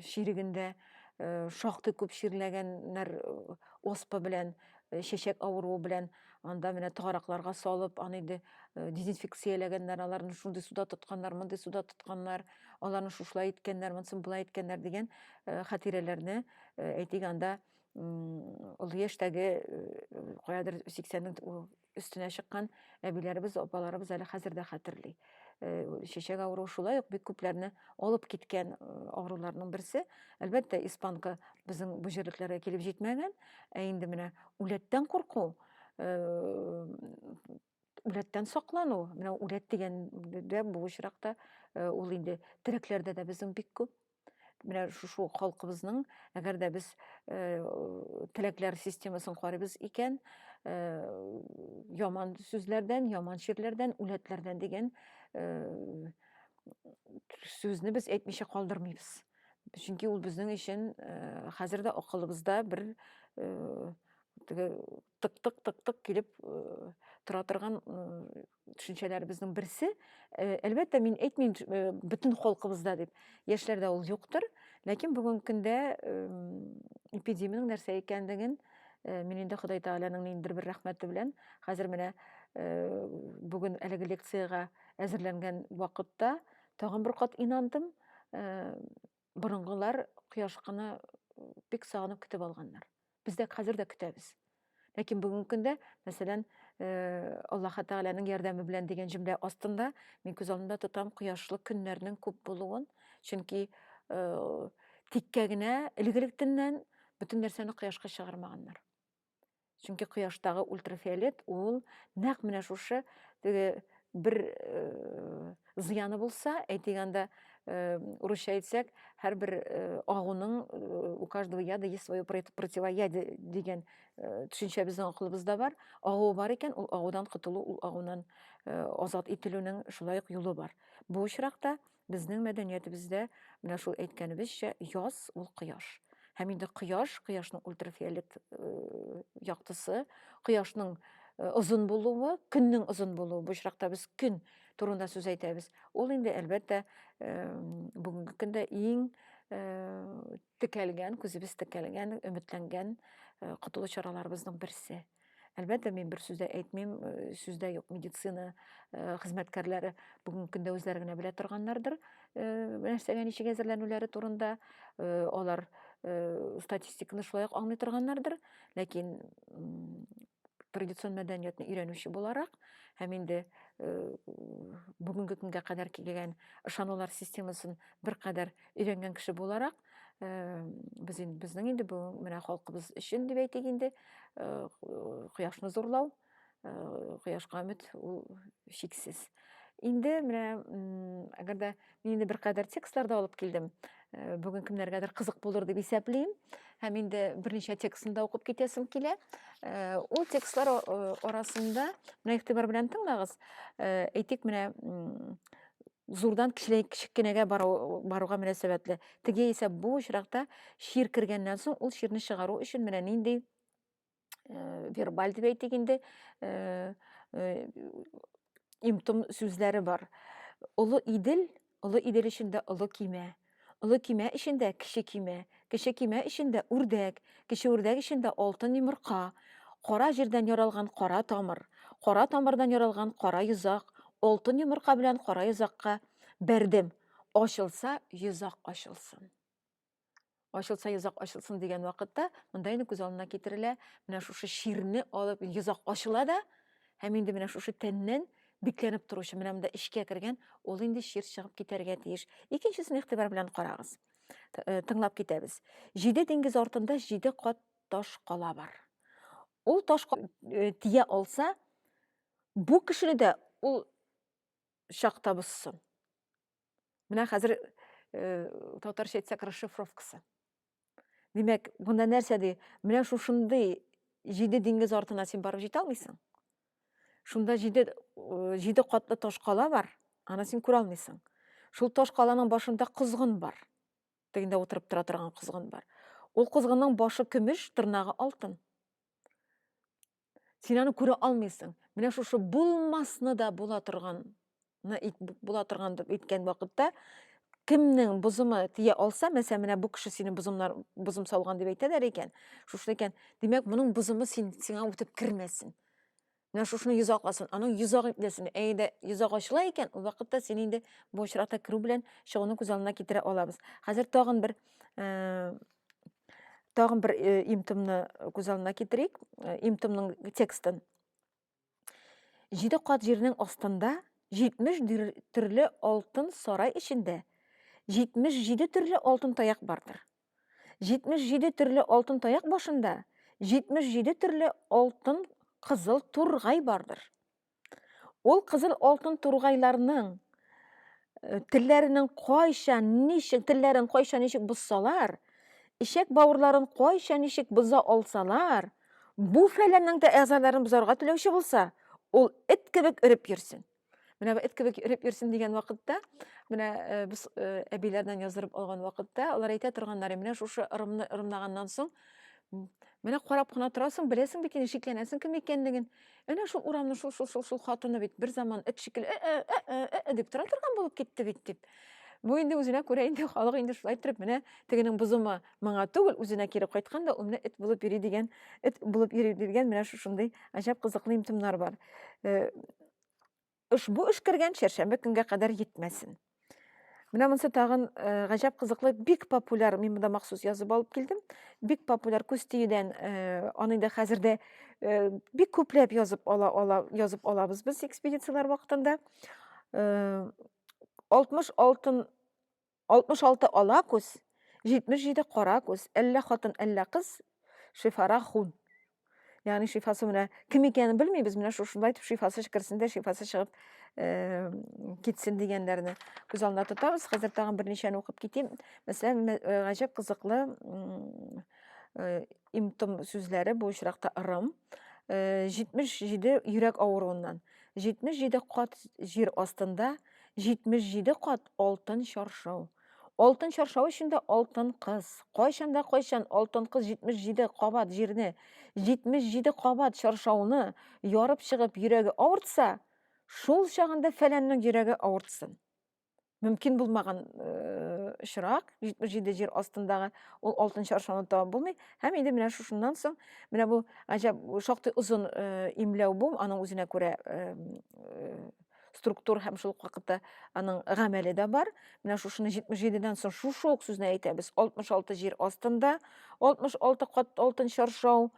чирегендә э, шактый күп чирләгәннәр э, оспа белән э, чәчәк авыруы белән анда менә таракларга салып аны инде дезинфекцияләгәннәр аларны шундый суда тотканнар мондый суда тотканнар аларны шушылай иткәннәр монсын болай иткәннәр дигән хатирәләрне әйтик анда олы яшьтәге каядыр сиксәннең өстенә чыккан әбиләребез, апаларыбыз әле хәзер дә хәтерли. Чәчәк авыруы шулай ук бик күпләрне алып киткән авыруларның берсе. Әлбәттә, испанка безнең бу җирлекләргә килеп җитмәгән, ә инде менә үләттән курку, үләттән саклану, менә үләт дигәндә бу очракта ул инде терәкләрдә дә безнең бик күп. менә шушы халкыбызның әгәр дә без э, теләкләр системасын карыйбыз икән э, яман сүзләрдән яман чирләрдән үләтләрдән дигән э, сүзне без әйтмичә калдырмыйбыз чөнки ул безнең өчен хәзер дә акылыбызда бер теге тык-тык тык-тык килеп тора торган төшенчәләребезнең берсе. Әлбәттә, мин әйтмим бөтен халкыбызда дип. Яшьләрдә ул юктыр, ләкин бүгенге көндә эпидемиянең нәрсә икәнлеген мин инде Ходай Тәгаләнең ниндидер бер рәхмәте белән хәзер менә бүген әлеге лекциягә әзерләнгән вакытта тагын бер кат инандым. Борынгылар кояшкыны бик сагынып көтеп алганнар. Без дә хәзер дә көтәбез. Ләкин бүгенге көндә, мәсәлән, э, Аллаһ Тәгаләнең ярдәме белән дигән җөмлә астында мин күз алдында тотам кояшлы көннәрнең күп булуын, чөнки э, тиккә генә элек-электеннән бөтен нәрсәне кояшка чыгармаганнар. Чөнки кояштагы ультрафиолет ул нәкъ менә шушы теге бер э, зыяны булса, әйтик анда э, урысча әйтсәк, һәрбер э, агуның у каждого яда есть свое противоядие дигән төшенчә безнең акылыбызда бар. Агу бар икән, ул агудан котылу, ул агудан азат ителүнең шулай ук юлы бар. Бу очракта Безнең мәдәниятебездә менә шул әйткәнебезчә яз ул кояш. Һәм инде кояш, кояшның ультрафиолет э, яктысы, кояшның э, озын булуы, көннең озын булуы, бу очракта без көн турында сүз әйтәбез. Ул инде әлбәттә э, бүгенге көндә иң Текәлгән, күзебез текәлгән, өметләнгән э, котылу чараларыбызның берсе. Әлбәттә, мин бер сүз дә әйтмим, э, сүз дә юк, медицина э, хезмәткәрләре бүгенге көндә үзләре генә белә торганнардыр, нәрсәгә ничек әзерләнүләре турында, алар статистиканы шулай ук аңлый торганнардыр, ләкин традицион мәдәниятне өйрәнүче буларак һәм инде э, бүгенге көнгә кадәр килгән ышанулар системасын беркадәр Өйрәнгән кеше буларак, э, без инде безнең инде бу менә халкыбыз өчен дип әйтик инде, э, кояшны зурлау, э, кояшка өмет ул шиксез. Инде менә әгәр дә мин инде беркадәр текстлар да алып килдем. Э, Бүген кемнәргәдер кызык булыр дип исәплим. Һәм инде берничә текстны да укып китәсем килә. Э, Ул текстлар а- э, арасында менә игътибар белән тыңлагыз. Э, Әйтик, менә м, зурдан кечкенәгә баруга мөнәсәбәтле. Теге исә бу очракта чир кергәннән соң ул чирне чыгару өчен менә нинди э, вербаль дип әйтик инде э, э, имтом сүзләре бар. Олы идел, олы идел өчен дә олы кимә. Олы көймә эчендә кече көймә, кече көймә эчендә үрдәк, кече үрдәк эчендә алтын йомырка, кара җирдән яралган кара тамыр, кара тамырдан яралган кара йозак, алтын йомырка белән кара йозакка бәрдем. Ачылса, йозак ачылсын. Ачылса, йозак ачылсын дигән вакытта, монда инде күз алдына китерелә, менә шушы чирне алып йозак ачыла да, һәм инде менә шушы тәннән бикләнеп торучы менә монда эчкә кергән ул инде чир чыгып китәргә тиеш икенчесен игътибар белән карагыз э, тыңлап китәбез җиде диңгез артында җиде кат таш кала бар ул таш э, тия алса бу кешене дә ул чакта бозсын менә хәзер э, татарча әйтсәк расшифровкасы Димәк, монда нәрсә ди? Менә шушындый җиде диңгез артына син барып җитә алмыйсың. Шунда җиде җиде катлы таш кала бар, аны син күрә алмыйсың. Шул таш каланың башында козгын бар. Тегендә утырып тора торган козгын бар. Ул козгынның башы көмеш, тырнагы алтын. Син аны күрә алмыйсың. Менә шушы булмасны да була торган була торган дип әйткән вакытта кемнең бозымы тия алса, мәсәлән, менә бу кеше сине бозымнар бозым салган дип әйтәләр икән, шушы икән, димәк, моның бозымы син сиңа үтеп кермәсен. Менә шушыны йозак асын, аның йозак итләсен. Әйдә, йозак ачыла икән, ул вакытта син инде бу очракта керү белән чыгуны күз алдына китерә алабыз. Хәзер тагын бер э, тагын бер э, имтымны күз алдына китерик э, имтымның текстын җиде кат җирнең астында 70 төрле алтын сарай эчендә 77 төрле алтын таяк бардыр 77 төрле алтын таяк башында 77 төрле алтын кызыл тургай бардыр Ул кызыл алтын тургайларның э, телләренең кайча ничек телләрен кайча ничек бозсалар, ишәк бауырларын кайча ничек боза алсалар, бу фәләннең дә әгъзаларын бозарга теләүче булса, ул эт кебек өреп йөрсен. Менә бу эт кебек өреп йөрсен дигән вакытта, менә э, без э, әбиләрдән яздырып алган вакытта, алар әйтә торганнары, менә шушы ырымны ырымлаганнан соң, менә карап кына торасың, беләсең бит инде, шикләнәсең кем икәнлеген. Әнә шул урамны шул шул шул шул хатыны бит бер заман эт шикелле э, э, э, э, э, э дип тора торган булып китте бит дип. Бу инде үзенә күрә инде халык инде шулай торып менә тегенең бозымы моңа түгел, үзенә кире кайткан да ул менә эт булып йөри дигән, эт булып йөри дигән менә шушындый гаҗәп кызыклы имтимнар бар. Э, Ошбу эшкәргән чәршәмбе көнгә кадәр йитмәсен. Менә монсы тагын э, гаҗәп кызыклы, бик популяр, мин монда махсус язып алып килдем. Бик популяр күз тиюдән э, аны инде хәзер дә э, бик күпләп язып ала, ала, язып алабыз без экспедицияләр вакытында. 60 алтын 66 ала күз, 77 кара күз, әллә хатын, әллә кыз, шифара хун. Ягъни шифасы менә кем икәнен белмибез, менә шушында итеп шифасы керсен дә, шифасы чыгып э, китсен дигәннәрне күз алдына тотабыз. Хәзер тагын берничәне укып китим. Мәсәлән, э, гаҗәп кызыклы э, Имтом сүзләре бу очракта ырым. 77 э, йөрәк авыруыннан, 77 кат җир астында, 77 кат алтын чаршау. Алтын чаршау эчендә алтын кыз. Кайчан да кайчан алтын кыз 77 кабат җирне, 77 кабат чаршауны ярып чыгып йөрәге авыртса, шул чагында фәләннең йөрәге авыртсын. мөмкин булмаган э, очрак, 77 җир астындагы ул алтынчы аршаны табып булмый. Һәм инде менә шушыннан соң, менә бу гаҗәп шактый озын э, имләү бу, аның үзенә күрә э, структур һәм шул вакытта аның гамәле дә бар. Менә шушыны 77-дән соң шушы ук сүзне әйтәбез. 66 җир астында, 66 кат алтын чаршау,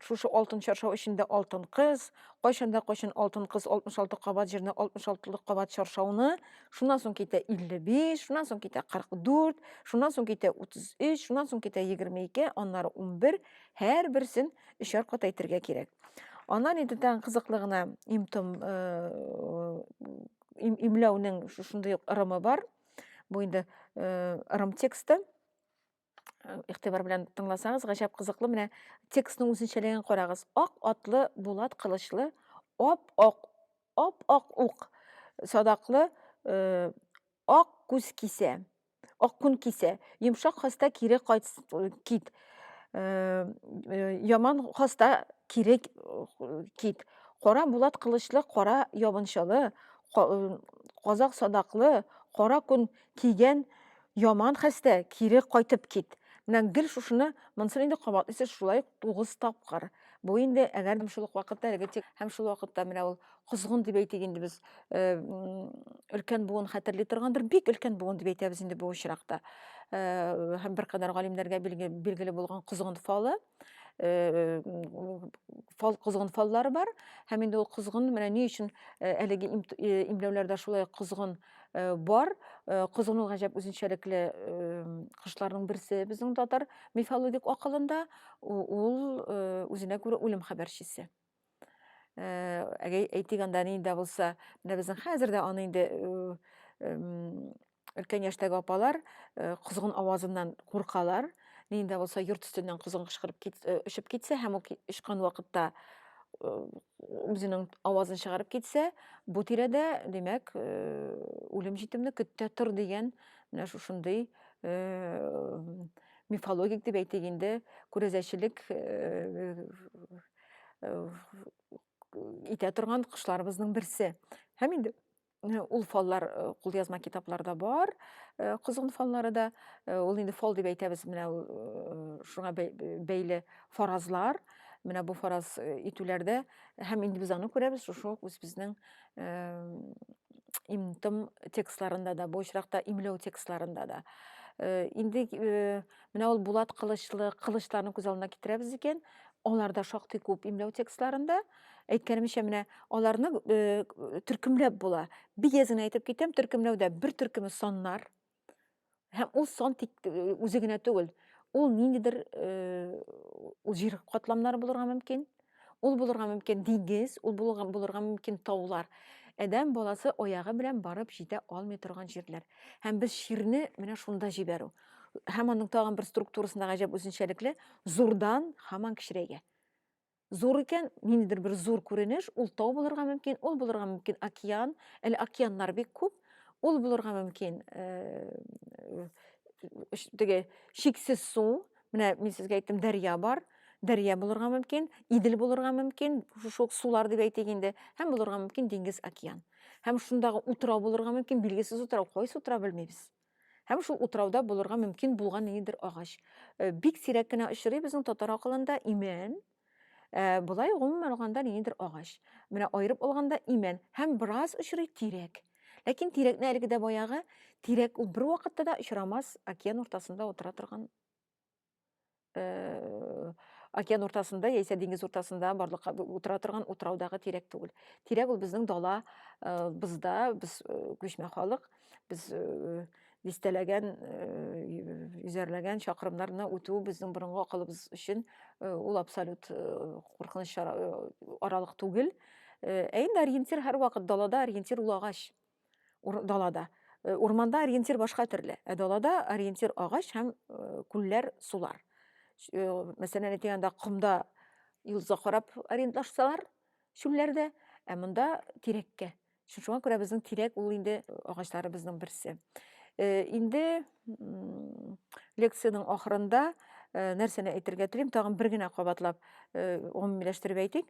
шушы алтын чаршау эчендә алтын кыз кайчанда кайчан алтын кыз 66 кабат җирне 66 лык кабат чаршауны шуннан соң китә 55 шуннан соң китә 44 шуннан соң китә 33 шуннан соң китә 22 аннары 11 һәр берсен өчәр кат әйтергә кирәк аннан инде тагын кызыклы гына имтом имләүнең шушындый ырымы бар бу инде ырым тексты Э, игътибар белән тыңласагыз гаҗәп кызыклы менә текстның үзенчәлеген карагыз ак атлы булат кылычлы ап ак ап ак ук садаклы э, ак күз кисә ак күн кисә йомшак хаста кире кайт кит э, яман хаста кире кит кара булат кылычлы кара ябынчалы казак садаклы кара күн Кигән, яман хәстә, кире кайтып кит. Менә гел шушыны, монсын инде кабатлыйсы шулай ук тугыз тапкыр. Бу инде әгәр дә шул ук вакытта әлеге тик һәм шул вакытта менә ул козгын дип әйтик инде без э, өлкән буын хәтерли торгандыр, бик өлкән буын дип әйтәбез инде бу очракта. Э, һәм беркадәр галимнәргә билгеле булган козгын фалы. э, фал козгын фаллары бар һәм инде ул козгын менә ни өчен э, әлеге э, имләүләрдә шулай козгын э, бар козгын ул гаҗәп үзенчәлекле кошларның берсе безнең татар мифологик акылында ул үзенә күрә үлем хәбәрчесе Әгәй әйтик анда ни дә булса, менә безнең хәзер дә аны инде өлкән яшьтәге апалар козгын авазыннан куркалар. Ни дә булса йорт өстеннән козгын кычкырып кит, очып китсә һәм ул очкан вакытта үзенең авазын чыгарып китсә, бу тирәдә, димәк, үлем җитемне көттә тор дигән менә шушындый мифологик дип әйтик инде, күрәзәчелек итә торган кошларыбызның берсе. Һәм инде ул фаллар кулъязма китапларда бар, козгын фаллары да. Ул инде фал дип әйтәбез, менә шуңа бәйле фаразлар. Менә бу фараз итүләрдә һәм инде без аны күрәбез шушы ук үзебезнең имтым текстларында да, бу очракта имләү текстларында да. Инде Менә ул Булат Кылычлы кылычларны күз алдына китерәбез икән, аларда шактый күп имләү текстларында. Әйткәнемчә, менә аларны э, төркемләп була. Бигә генә әйтеп китәм, төркемләүдә бер төркеме саннар. Һәм ул сан тик э, үзе генә түгел. Ул ниндидер э, ул җир катламнары булырга мөмкин. Ул булырга мөмкин дигез, ул булырга, булырга мөмкин таулар. Адәм баласы аягы белән барып җитә алмый торган җирләр. Һәм без чирне менә шунда җибәрү. Һәм аның тагын бер структурасында гаҗәп үзенчәлекле зурдан һаман кечерәйгә. Зур икән, ниндидер бер зур күренеш, ул тау булырга мөмкин, ул булырга мөмкин океан, әле океаннар бик күп, ул булырга мөмкин э, теге чиксез су, Менә мин сезгә әйттем, дәрья бар. Дәрья булырга мөмкин, Идел булырга мөмкин, шул сулар дип әйтик инде, һәм булырга мөмкин диңгез океан. Һәм шундагы утрау булырга мөмкин, билгесез утрау, кайсы утрау белмибез. Һәм шул утрауда булырга мөмкин булган ниндидер агач. Э, бик сирәк кенә очрый безнең татар акылында имән, Ә, болай гомумән алганда ниндидер агач. Менә аерып алганда имән һәм бераз очрый тирәк. Ләкин тирәкне әлеге дә баягы тирәк ул бер вакытта да очрамас океан уртасында утыра торган э, океан уртасында яисә диңгез уртасында барлыкка утыра торган утраудагы тирәк түгел. Тирәк ул безнең дала, э, бызда, без э, күчмә халык, Без дистәләгән, йөзәрләгән чакрымнарны үтү безнең борынгы акылыбыз өчен ул абсолют куркыныч аралык түгел. Ә инде ориентир һәрвакыт далада ориентир ул агач. Далада. Урманда ориентир башка төрле. Ә далада ориентир агач һәм күлләр, сулар. Мәсәлән, әйтгәндә комда йолдызга карап ориентлашсалар, чүлләрдә, ә монда тирәккә. Шуңа күрә безнең тирәк ул инде агачларыбызның берсе. Э, инде лекциянең ахырында э, нәрсәне әйтергә телим, тагын бер генә кабатлап э, гомумиләштереп әйтик.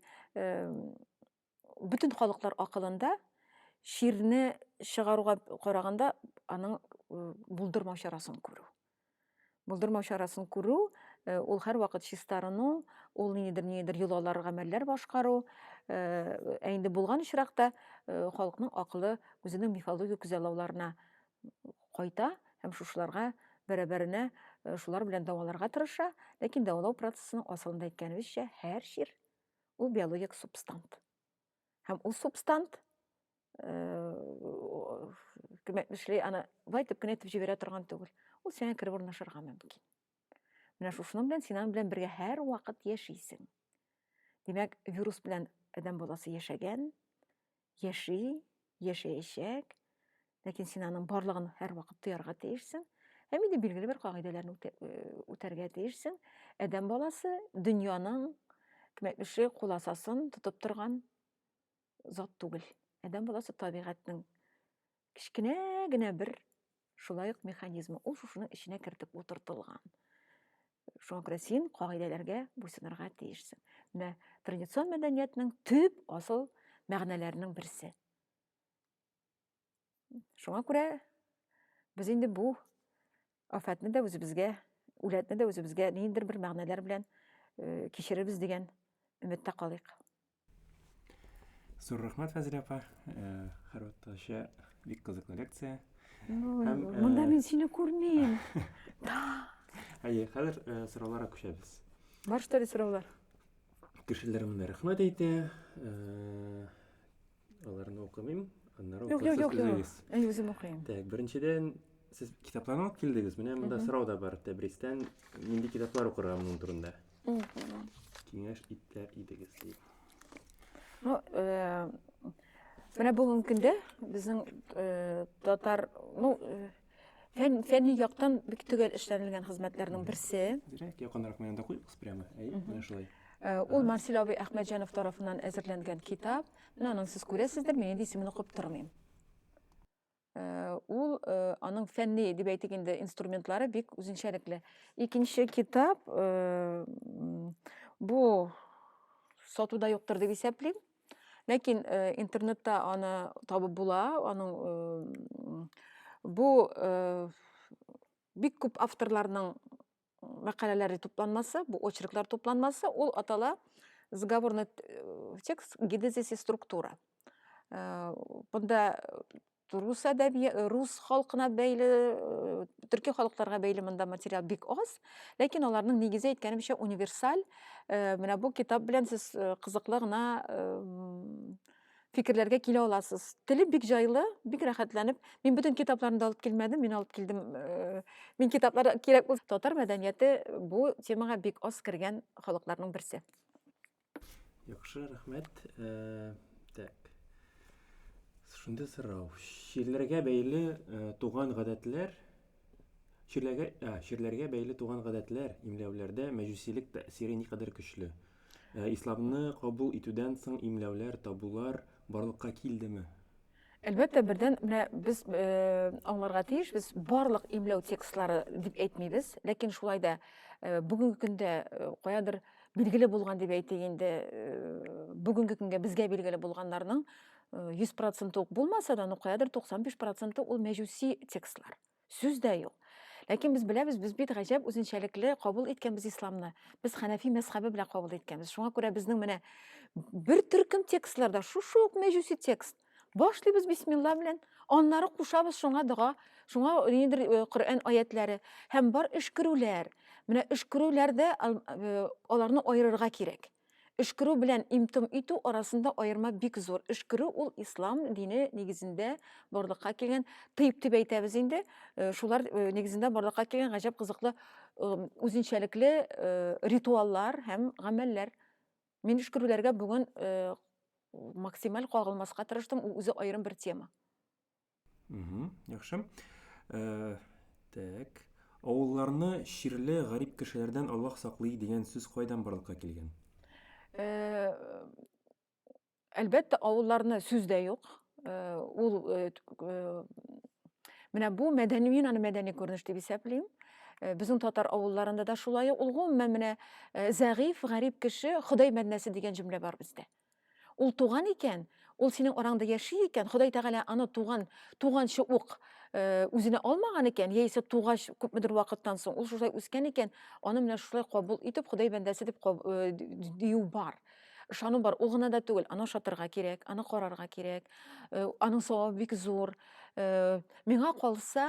Бөтен халыклар акылында ширне чыгаруга караганда аның булдырмау чарасын күрү. Булдырмау чарасын күрү, э, ул һәрвакыт чистарыну, ул ниндидер ниндидер йолалар, гамәлләр башкару. Э, ә инде булган очракта э, халыкның акылы үзенең мифологик күзаллауларына кайта һәм шушыларга бәрабәренә шулар белән дәваларга тырыша, ләкин дәвалау процессының асылында әйткәнебезчә, һәр чир ул биологик субстант. һәм ул субстант күмәк эшли аны былай итеп кенә итеп җибәрә торган түгел ул сиңа кереп урнашырга мөмкин менә шушының белән син аның белән бергә һәрвакыт яшисең димәк вирус белән адәм баласы яшәгән яши яшәячәк Ләкин син аның барлыгын һәрвакыт тоярга тиешсең һәм инде билгеле бер кагыйдәләрне үтәргә тиешсең. Адәм баласы дөньяның кемәтлеше куласасын тотып торган зат түгел. Адәм баласы табигатьнең кечкенә генә бер шулай ук механизмы. Ул шушының эченә кертеп утыртылган. Шуңа күрә син кагыйдәләргә буйсынырга тиешсең. Менә традицион мәдәниятның төп асыл мәгънәләренең берсе. Шуңа күрә без инде бу афәтне дә үзебезгә, үләтне дә үзебезгә ниндер бер мәгънәләр белән э, кичерербез дигән өметтә калыйк. Зур рәхмәт, Фәзилә апа. Э, Хәрвәттәчә бик кызыклы лекция. Ну, Һәм, э, монда мин сине күрмим. Әйе, хәзер э, сорауларга күчәбез. Бар что ли сораулар? Кешеләр монда рәхмәт әйтә. Э, Аларны укымыйм, аннары Юк, юк, юк, юк. Әй, үзем укыйм. Так, беренчедән, сез китапларны алып килдегез. Менә монда сорау да бар. Тәбристән нинди китаплар укырга моның турында? Киңәш итәр идегез ди. Ну, э, менә бүгенге көндә безнең э, татар, ну, э, Фән, фәнни яктан бик төгәл эшләнелгән хезмәтләрнең берсе. Дирәк, якынрак менә да куйыгыз прямо. Әй, менә шулай. Э, ул Марсель абый Әхмәтҗанов тарафыннан әзерләнгән китап. Менә аның сез күрәсездер, мин инде исемен укып тормыйм. Э, ул э, аның фәнни дип әйтик инде инструментлары бик үзенчәлекле икенче китап э, бу сатуда юктыр дип исәплим Ләкин э, интернетта аны табып була, аның э, бу э, бик күп авторларның мәкаләләре тупланмасы, бу очерклар тупланмасы, ул атала заговорный э, текст гидезис и структура. Э, бында Рус әдәби, рус халкына бәйле, төрки халыкларга бәйле монда материал бик аз, ләкин аларның нигезе әйткәнемчә универсаль. Менә бу китап белән сез кызыклы гына фикерләргә килә аласыз. Теле бик җайлы, бик рәхәтләнеп. Мин бөтен китапларны да алып килмәдем, мин алып килдем. Э, мин китаплар кирәк булса, татар мәдәнияте бу темага бик аз кергән халыкларның берсе. Яхшы, рәхмәт. Так. Шундый сорау. Чирләргә бәйле туган гадәтләр чирләргә чирләргә бәйле туган гадәтләр имләүләрдә мәҗүсилек тәэсире никадәр көчле? Исламны кабул итүдән соң имләүләр, табулар барлыкка килдеме? Әлбәттә, бердән менә без э, аңларга тиеш, без барлык имләү текстлары дип әйтмибез, ләкин шулай да э, бүгенге көндә э, каядыр билгеле булган дип әйтик инде, бүгенге көнгә безгә билгеле булганнарның 100% ук булмаса да, ну каядыр 95% ул мәҗүси текстлар. сүз дә юк ләкин без беләбез без бит гаҗәп үзенчәлекле кабул иткәнбез исламны без хәнәфи мәзхәбе белән кабул иткәнбез шуңа күрә безнең менә бер төркем текстларда шушы ук мәҗүси текст башлыйбыз бисмилла белән аннары кушабыз шуңа дога шуңа нидер э, коръән аятләре һәм бар өшкерүләр менә өшкерүләрдә э, аларны аерырга кирәк Өшкерү белән им-том итү арасында аерма бик зур. Өшкерү ул ислам дине нигезендә барлыкка килгән, тыйб дип әйтәбез инде, э, шулар э, нигезендә барлыкка килгән гаҗәп кызыклы э, үзенчәлекле э, ритуаллар һәм гамәлләр. Мин өшкерүләргә бүген э, максималь кагылмаска тырыштым, ул үзе аерым бер тема. Угу, яхшы. Э, так. Авылларны чирле гарип кешеләрдән Аллаһ саклый дигән сүз кайдан барлыкка килгән? Э, әлбәттә, авылларны сүз дә юк. Э, ул менә бу мәдәни мин аны мәдәни күренеш дип исәплим. Безнең татар авылларында да шулай. Ул гомумән менә зәгыйфь, гарип кеше, Ходай мәднәсе дигән җөмлә бар бездә. Ул туган икән, ул синең араңда яши икән, Ходай Тәгалә аны туган, туганчы ук э, үзенә алмаган икән, яисә тугач күпмедер вакыттан соң ул шулай үскән икән, аны менә шулай кабул итеп, Ходай бәндәсе дип э, дию бар. Ышану бар. Ул гына да түгел, аны ошатырга кирәк, аны карарга кирәк. Э, аның савабы бик зур. Миңа калса,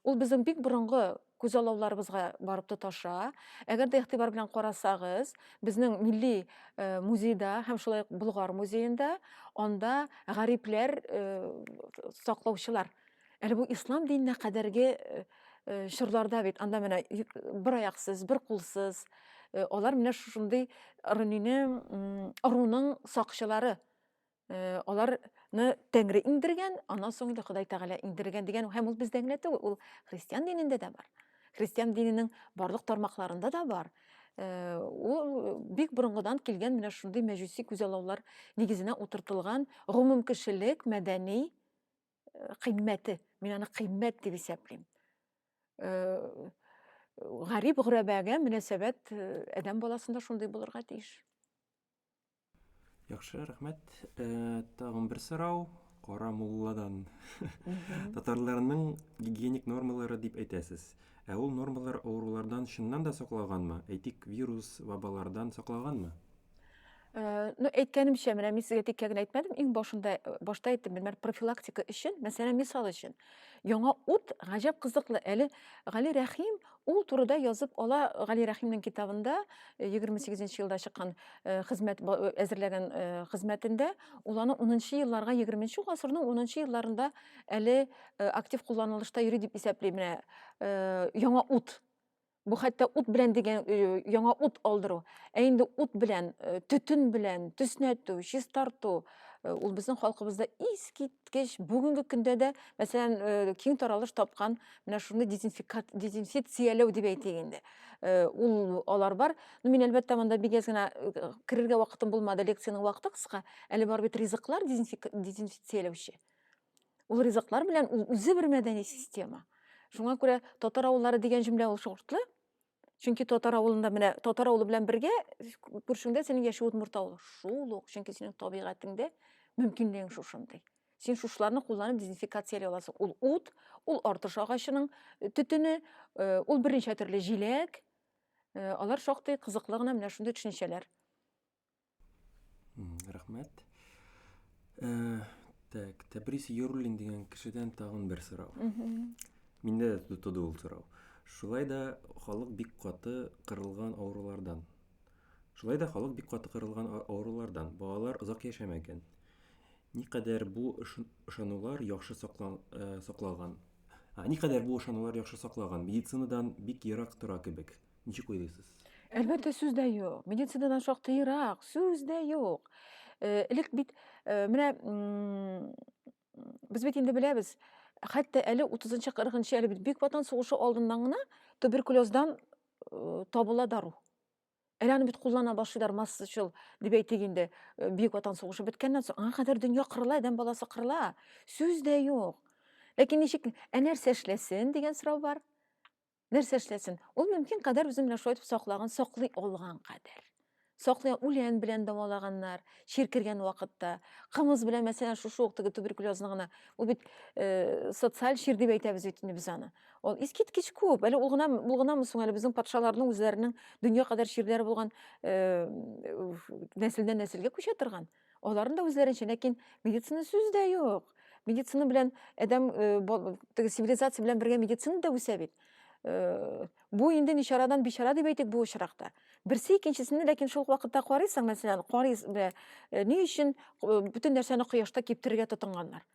ул безнең бик борынгы күзаллауларыбызга барып тоташа. Әгәр дә игътибар белән карасагыз, безнең милли э, музейда һәм шулай ук Болгар музеенда анда гарипләр э, саклаучылар. Әле бу ислам диненә кадәрге э, чорларда бит анда менә бер аяқсыз, бер кулсыз алар менә шушындый ырынины ыруның сакчылары Э, аларны тәңре иңдергән аннан соң инде ходай тәгалә иңдергән дигән һәм ул бездә генә түгел ул христиан динендә дә бар христиан диненең барлык тармакларында да бар э, ул бик борынгыдан килгән менә шундый мәҗүси күзаллаулар нигезенә утыртылган гомум кешелек мәдәни э, кыйммәте мин аны кыйммәт дип исәплим гарип гөрәбәгә мөнәсәбәт адәм баласында шундый булырга тиеш Яхшы, рәхмәт. Э, тагын бер сорау Кара мулладан. Татарларның гигиеник нормалары дип әйтәсез. Ә ул нормалар авырулардан чыннан да саклаганмы? Әйтик, вирус, вабалардан саклаганмы? Э, ну әйткәнемчә менә мин сезгә теккә генә әйтмәдем иң башында э, башта әйттем менә профилактика өчен мәсәлән мисал өчен Яңа ут гаҗәп кызыклы. Әле Гали Рәхим ул турыда язып ала Гали Рәхимнең китабында 28 э, елда чыккан э, хезмәт э, әзерләгән хезмәтендә ул аны 10 елларга 20 гасырның 10 елларында әле актив кулланылышта йөри дип исәпли менә яңа ут Бу хәтта ут белән дигән э, яңа ут алдыру. Ә инде ут белән, э, төтен белән төснәтү, чистарту э, ул безнең халкыбызда искиткеч бүгенге көндә дә, мәсәлән, киң таралыш тапкан менә шуны дезинфекцияләү дип әйтик инде. Ул алар бар. Ну мин әлбәттә монда бик әз генә керергә вакытым булмады, лекциянең вакыты кыска. Әле бар бит ризыклар дезинфекцияләүче. Ул ризыклар белән ул үзе бер мәдәни система. Шуңа күрә татар авыллары дигән җөмлә ул шортлы. Чөнки татар авылында менә татар авылы белән бергә күршеңдә синең яши удмурт авылы. Шул ук, чөнки синең табигатеңдә мөмкинлегең шушындый. Син шушларны кулланып дезинфикация аласың. Ул ут, ул артыш агачының э, төтене, э, ул берничә төрле җиләк. Э, алар шактый кызыклы гына менә шундый төшенчәләр. Рәхмәт. Э, так, Тәбрис Йөруллин дигән кешедән тагын бер сорау. Миндә дә туды ул сорау. Шулай да халык бик каты кырылган авырулардан. Шулай да халык бик каты кырылган авырулардан. Балалар озак яшәмәгән. Никадәр бу ышанулар яхшы э, сакланган? Никадәр бу ышанулар яхшы сакланган? Медицинадан бик ерак тора кебек. Ничек уйлыйсыз? Әлбәттә, сүз дә юк. Медицинадан шактый ерак, сүз дә юк. Э, элек бит, э, менә без бит инде беләбез, хәтта әле 30-нчы, 40-нчы, әле бит Бөек Ватан сугышы алдыннан гына туберкулездан э, табыла дару. Әле аны бит куллана башлыйлар массачыл, дип әйтик инде, Бөек Ватан сугышы беткәннән соң, аңа кадәр дөнья кырыла, адәм баласы кырыла. Сүз дә юк. Ләкин ничек, ә нәрсә эшләсен дигән сорау бар. нәрсә эшләсен ул мөмкин кадәр үзе белән шулай итеп саклаган саклый алган кадәр саклый үлән белән дәвалаганнар чир кергән вакытта кымыз белән мәсәлән шушы ук теге туберкулезны гына ул бит э, социаль чир дип әйтәбез бит инде без аны ул искиткеч күп әле ул гына ул гынамы соң әле безнең патшаларның үзләренең дөнья кадәр чирләре булган э, нәселдән нәселгә күчә торган Аларның да үзләренчә, ләкин медицина сүз дә юк. Медицина белән адәм теге цивилизация белән бергә медицина да үсә бит. Бу инде ничарадан бичара дип әйтик бу очракта. Берсе икенчесенә ләкин шул вакытта карыйсың, мәсәлән, карыйс ни өчен бөтен нәрсәне кояшта киптерергә тотынганнар.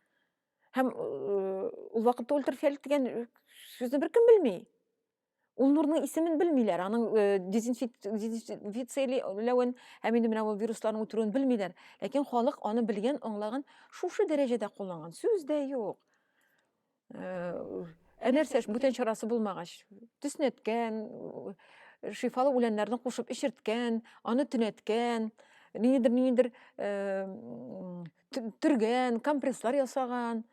Һәм ул вакытта ультрафиолет дигән сүзне беркем белми. Ул нурның исемен белмиләр, аның э, дезинфициләвен һәм инде менә ул вирусларның үтерүен белмиләр. Ләкин халык аны белгән, аңлаган, шушы дәрәҗәдә кулланган. Сүз дә юк. Э, ә нәрсә бүтән чарасы булмагач, төснәткән, э, шифалы үләннәрне кушып эчерткән, аны төнәткән, ниндидер ниндидер төргән, компресслар ясаган.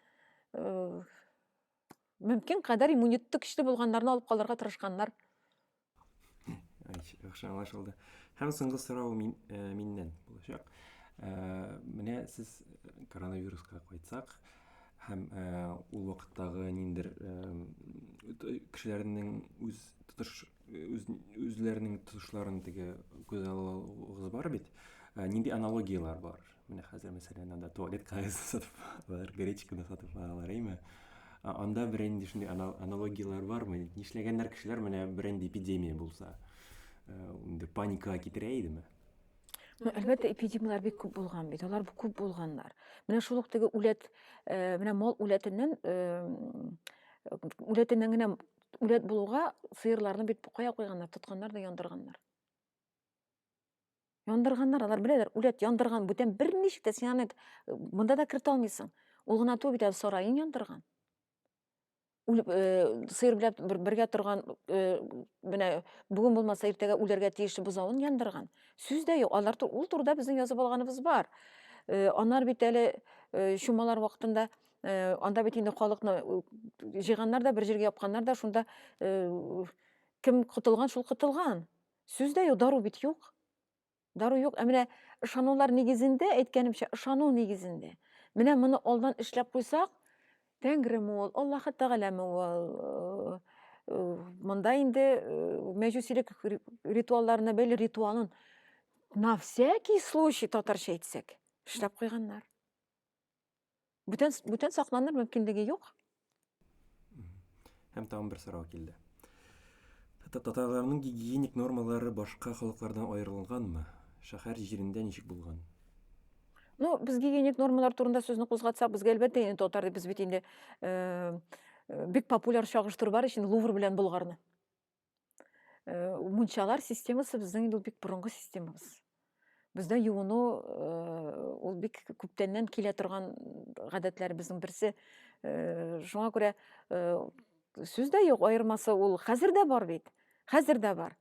мөмкин кадәр иммунитеты көчле булганнарны алып калырга тырышканнар яхшы аңлашылды һәм соңгы сорау мин, ә, миннән булачак ә, менә сез коронавируска кайтсак һәм ә, ул вакыттагы ниндер ә, кешеләрнең үз тотыш үз үзләренең тотышларын теге күз алуыгыз бар бит ә, нинди аналогиялар бар менә хәзер мәсәлән анда туалет кагазын сатып алалар гречканы сатып алалар әйме анда берәнди шундый аналогиялар бармы нишләгәннәр кешеләр менә берәнди эпидемия булса инде ә, паникага китерә идеме Ну, әлбәттә, эпидемияләр бик күп булган бит. Алар күп булганнар. Менә шул ук теге үләт, э, менә мал үләтеннән, э, үләтеннән генә үләт булуга сыерларны бит букая куйганнар тотканнар да яндырганнар яндырганнар алар беләләр үләт яндырган бүтән берничә дә син аны монда да кертә алмыйсың ул гына түгел бит әле сараен яндырган үлеп э, сыер белән бер, бергә торган э, менә бүген булмаса иртәгә үләргә тиешле бозавын яндырган сүз дә юк алар ул турыда безнең язып алганыбыз бар э, анар бит әле э, чумалар вакытында Э, анда бит инде халыкны э, җыйганнар да бер җиргә япканнар да шунда э, кем котылган шул котылган сүз дә юк дару бит юк дару юк ә менә ышанулар нигезендә әйткәнемчә ышану нигезендә менә моны алдан эшләп куйсак тәңреме ул аллаһы тәгаләме ул монда инде мәҗүсилек ритуалларына бәйле ритуалын на всякий случай татарча әйтсәк эшләп куйганнар Бүтән, бүтән сакланыр мөмкинлеге юк. Һәм тагын бер сорау килде. Татарларның гигиеник нормалары башка халыклардан аерылганмы? Шәһәр җирендә ничек булган? Ну, без гигиеник нормалар турында сүзне кузгатсак, безгә әлбәттә инде татар без бит инде э, э, бик популяр чагыштыру бар өчен Лувр белән Болгарны. Э, мунчалар системасы безнең инде ул бик борынгы системабыз бездә юыну э, ул бик күптәннән килә торган гадәтләребезнең берсе э, шуңа күрә сүз дә юк аермасы ул хәзер дә бар бит хәзер дә бар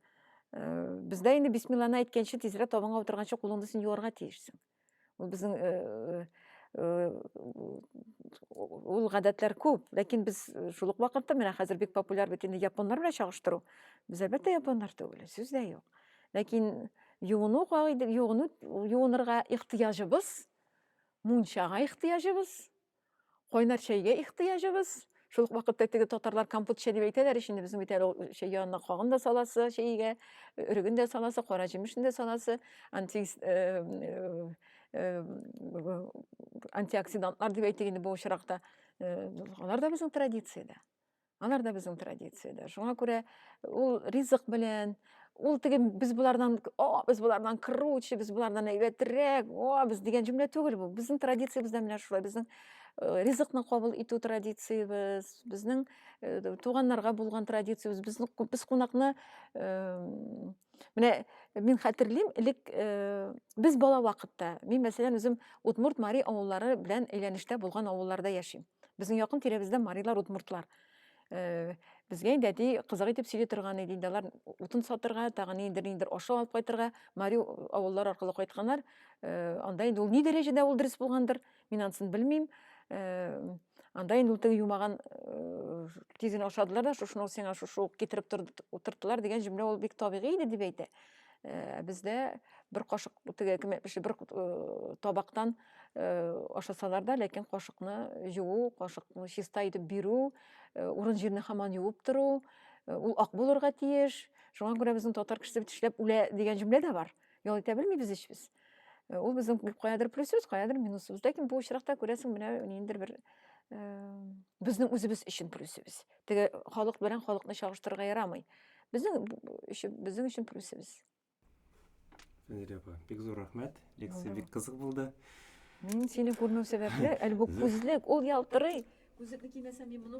бездә инде бисмилланы әйткәнче тизрәк табынга утырганчы кулыңны син юарга тиешсең Безнең э, э, э, ул гадәтләр күп, ләкин без шул ук вакытта менә хәзер бик популяр бит инде японнар белән чагыштыру. Без әлбәттә японнар түгел, сүз дә юк. Ләкин юыну кагыйдә, юыну юынырга ихтыяҗыбыз, мунчага ихтыяҗыбыз, Кайнар чәйгә ихтыяҗыбыз. Шул ук вакытта теге татарлар компот чәй дип әйтәләр ич инде безнең бит әле чәй янына кагын да саласы чәйгә, өреген дә саласы, кара җимешне дә саласы, анти э, э, э, антиоксидантлар дип әйтик инде бу очракта. Алар да безнең традициядә. Алар да безнең традициядә. Шуңа күрә ул ризык белән, ул теге без болардан, о, без болардан круче, без болардан әйбәтрәк, о, без дигән җөмлә түгел бу. Безнең традициябез дә менә шулай. Безнең э, ризыкны кабул итү традициябез, безнең э, туганнарга булган традициябез, безнең без кунакны э, Менә мин хәтерлим, элек э, без бала вакытта, мин мәсәлән үзем Удмурт Мари авыллары белән әйләнештә булган авылларда яшим. Безнең якын тирәбездә Марилар, Удмуртлар. Э, безгә инде әти кызык итеп сөйли торган иде, инде алар утын сатырга, тагын инде ниндер ашау алып кайтырга, Мари авыллары аркылы кайтканнар. Э, анда инде ул ни дәрәҗәдә ул дөрес булгандыр? Мин ансын белмим. Э, анда инде ул юмаган э, тиз генә ашадылар да, шушыны сиңа шушы ук китереп утырттылар дигән җөмлә ул бик табигый иде дип әйтә. Э, бездә бер кашык теге кем әйтмешли, бер табактан ашасалар да, ләкин кашыкны жуу, кашыкны чиста итеп бирү, урын җирне хаман юып тору, ул ак булырга тиеш. Шуңа күрә безнең татар кешесе бит эшләп үлә дигән җөмлә дә бар. ял итә белмибез ичбез э, ул безнең каядыр плюсыбыз каядыр минусыбыз ләкин бу очракта күрәсең менә ниндидер бер безнең үзебез өчен плюсыбыз теге халык белән халыкны чагыштырырга ярамый безнең өчен безнең өчен плюсыбыз Фәнзилә апа, бик зур рәхмәт. Лекция бик кызык булды. Мин сине күрмәү сәбәпле, әле бу күзлек, ул ялтырый. Күзлекне кимәсәм, мин моны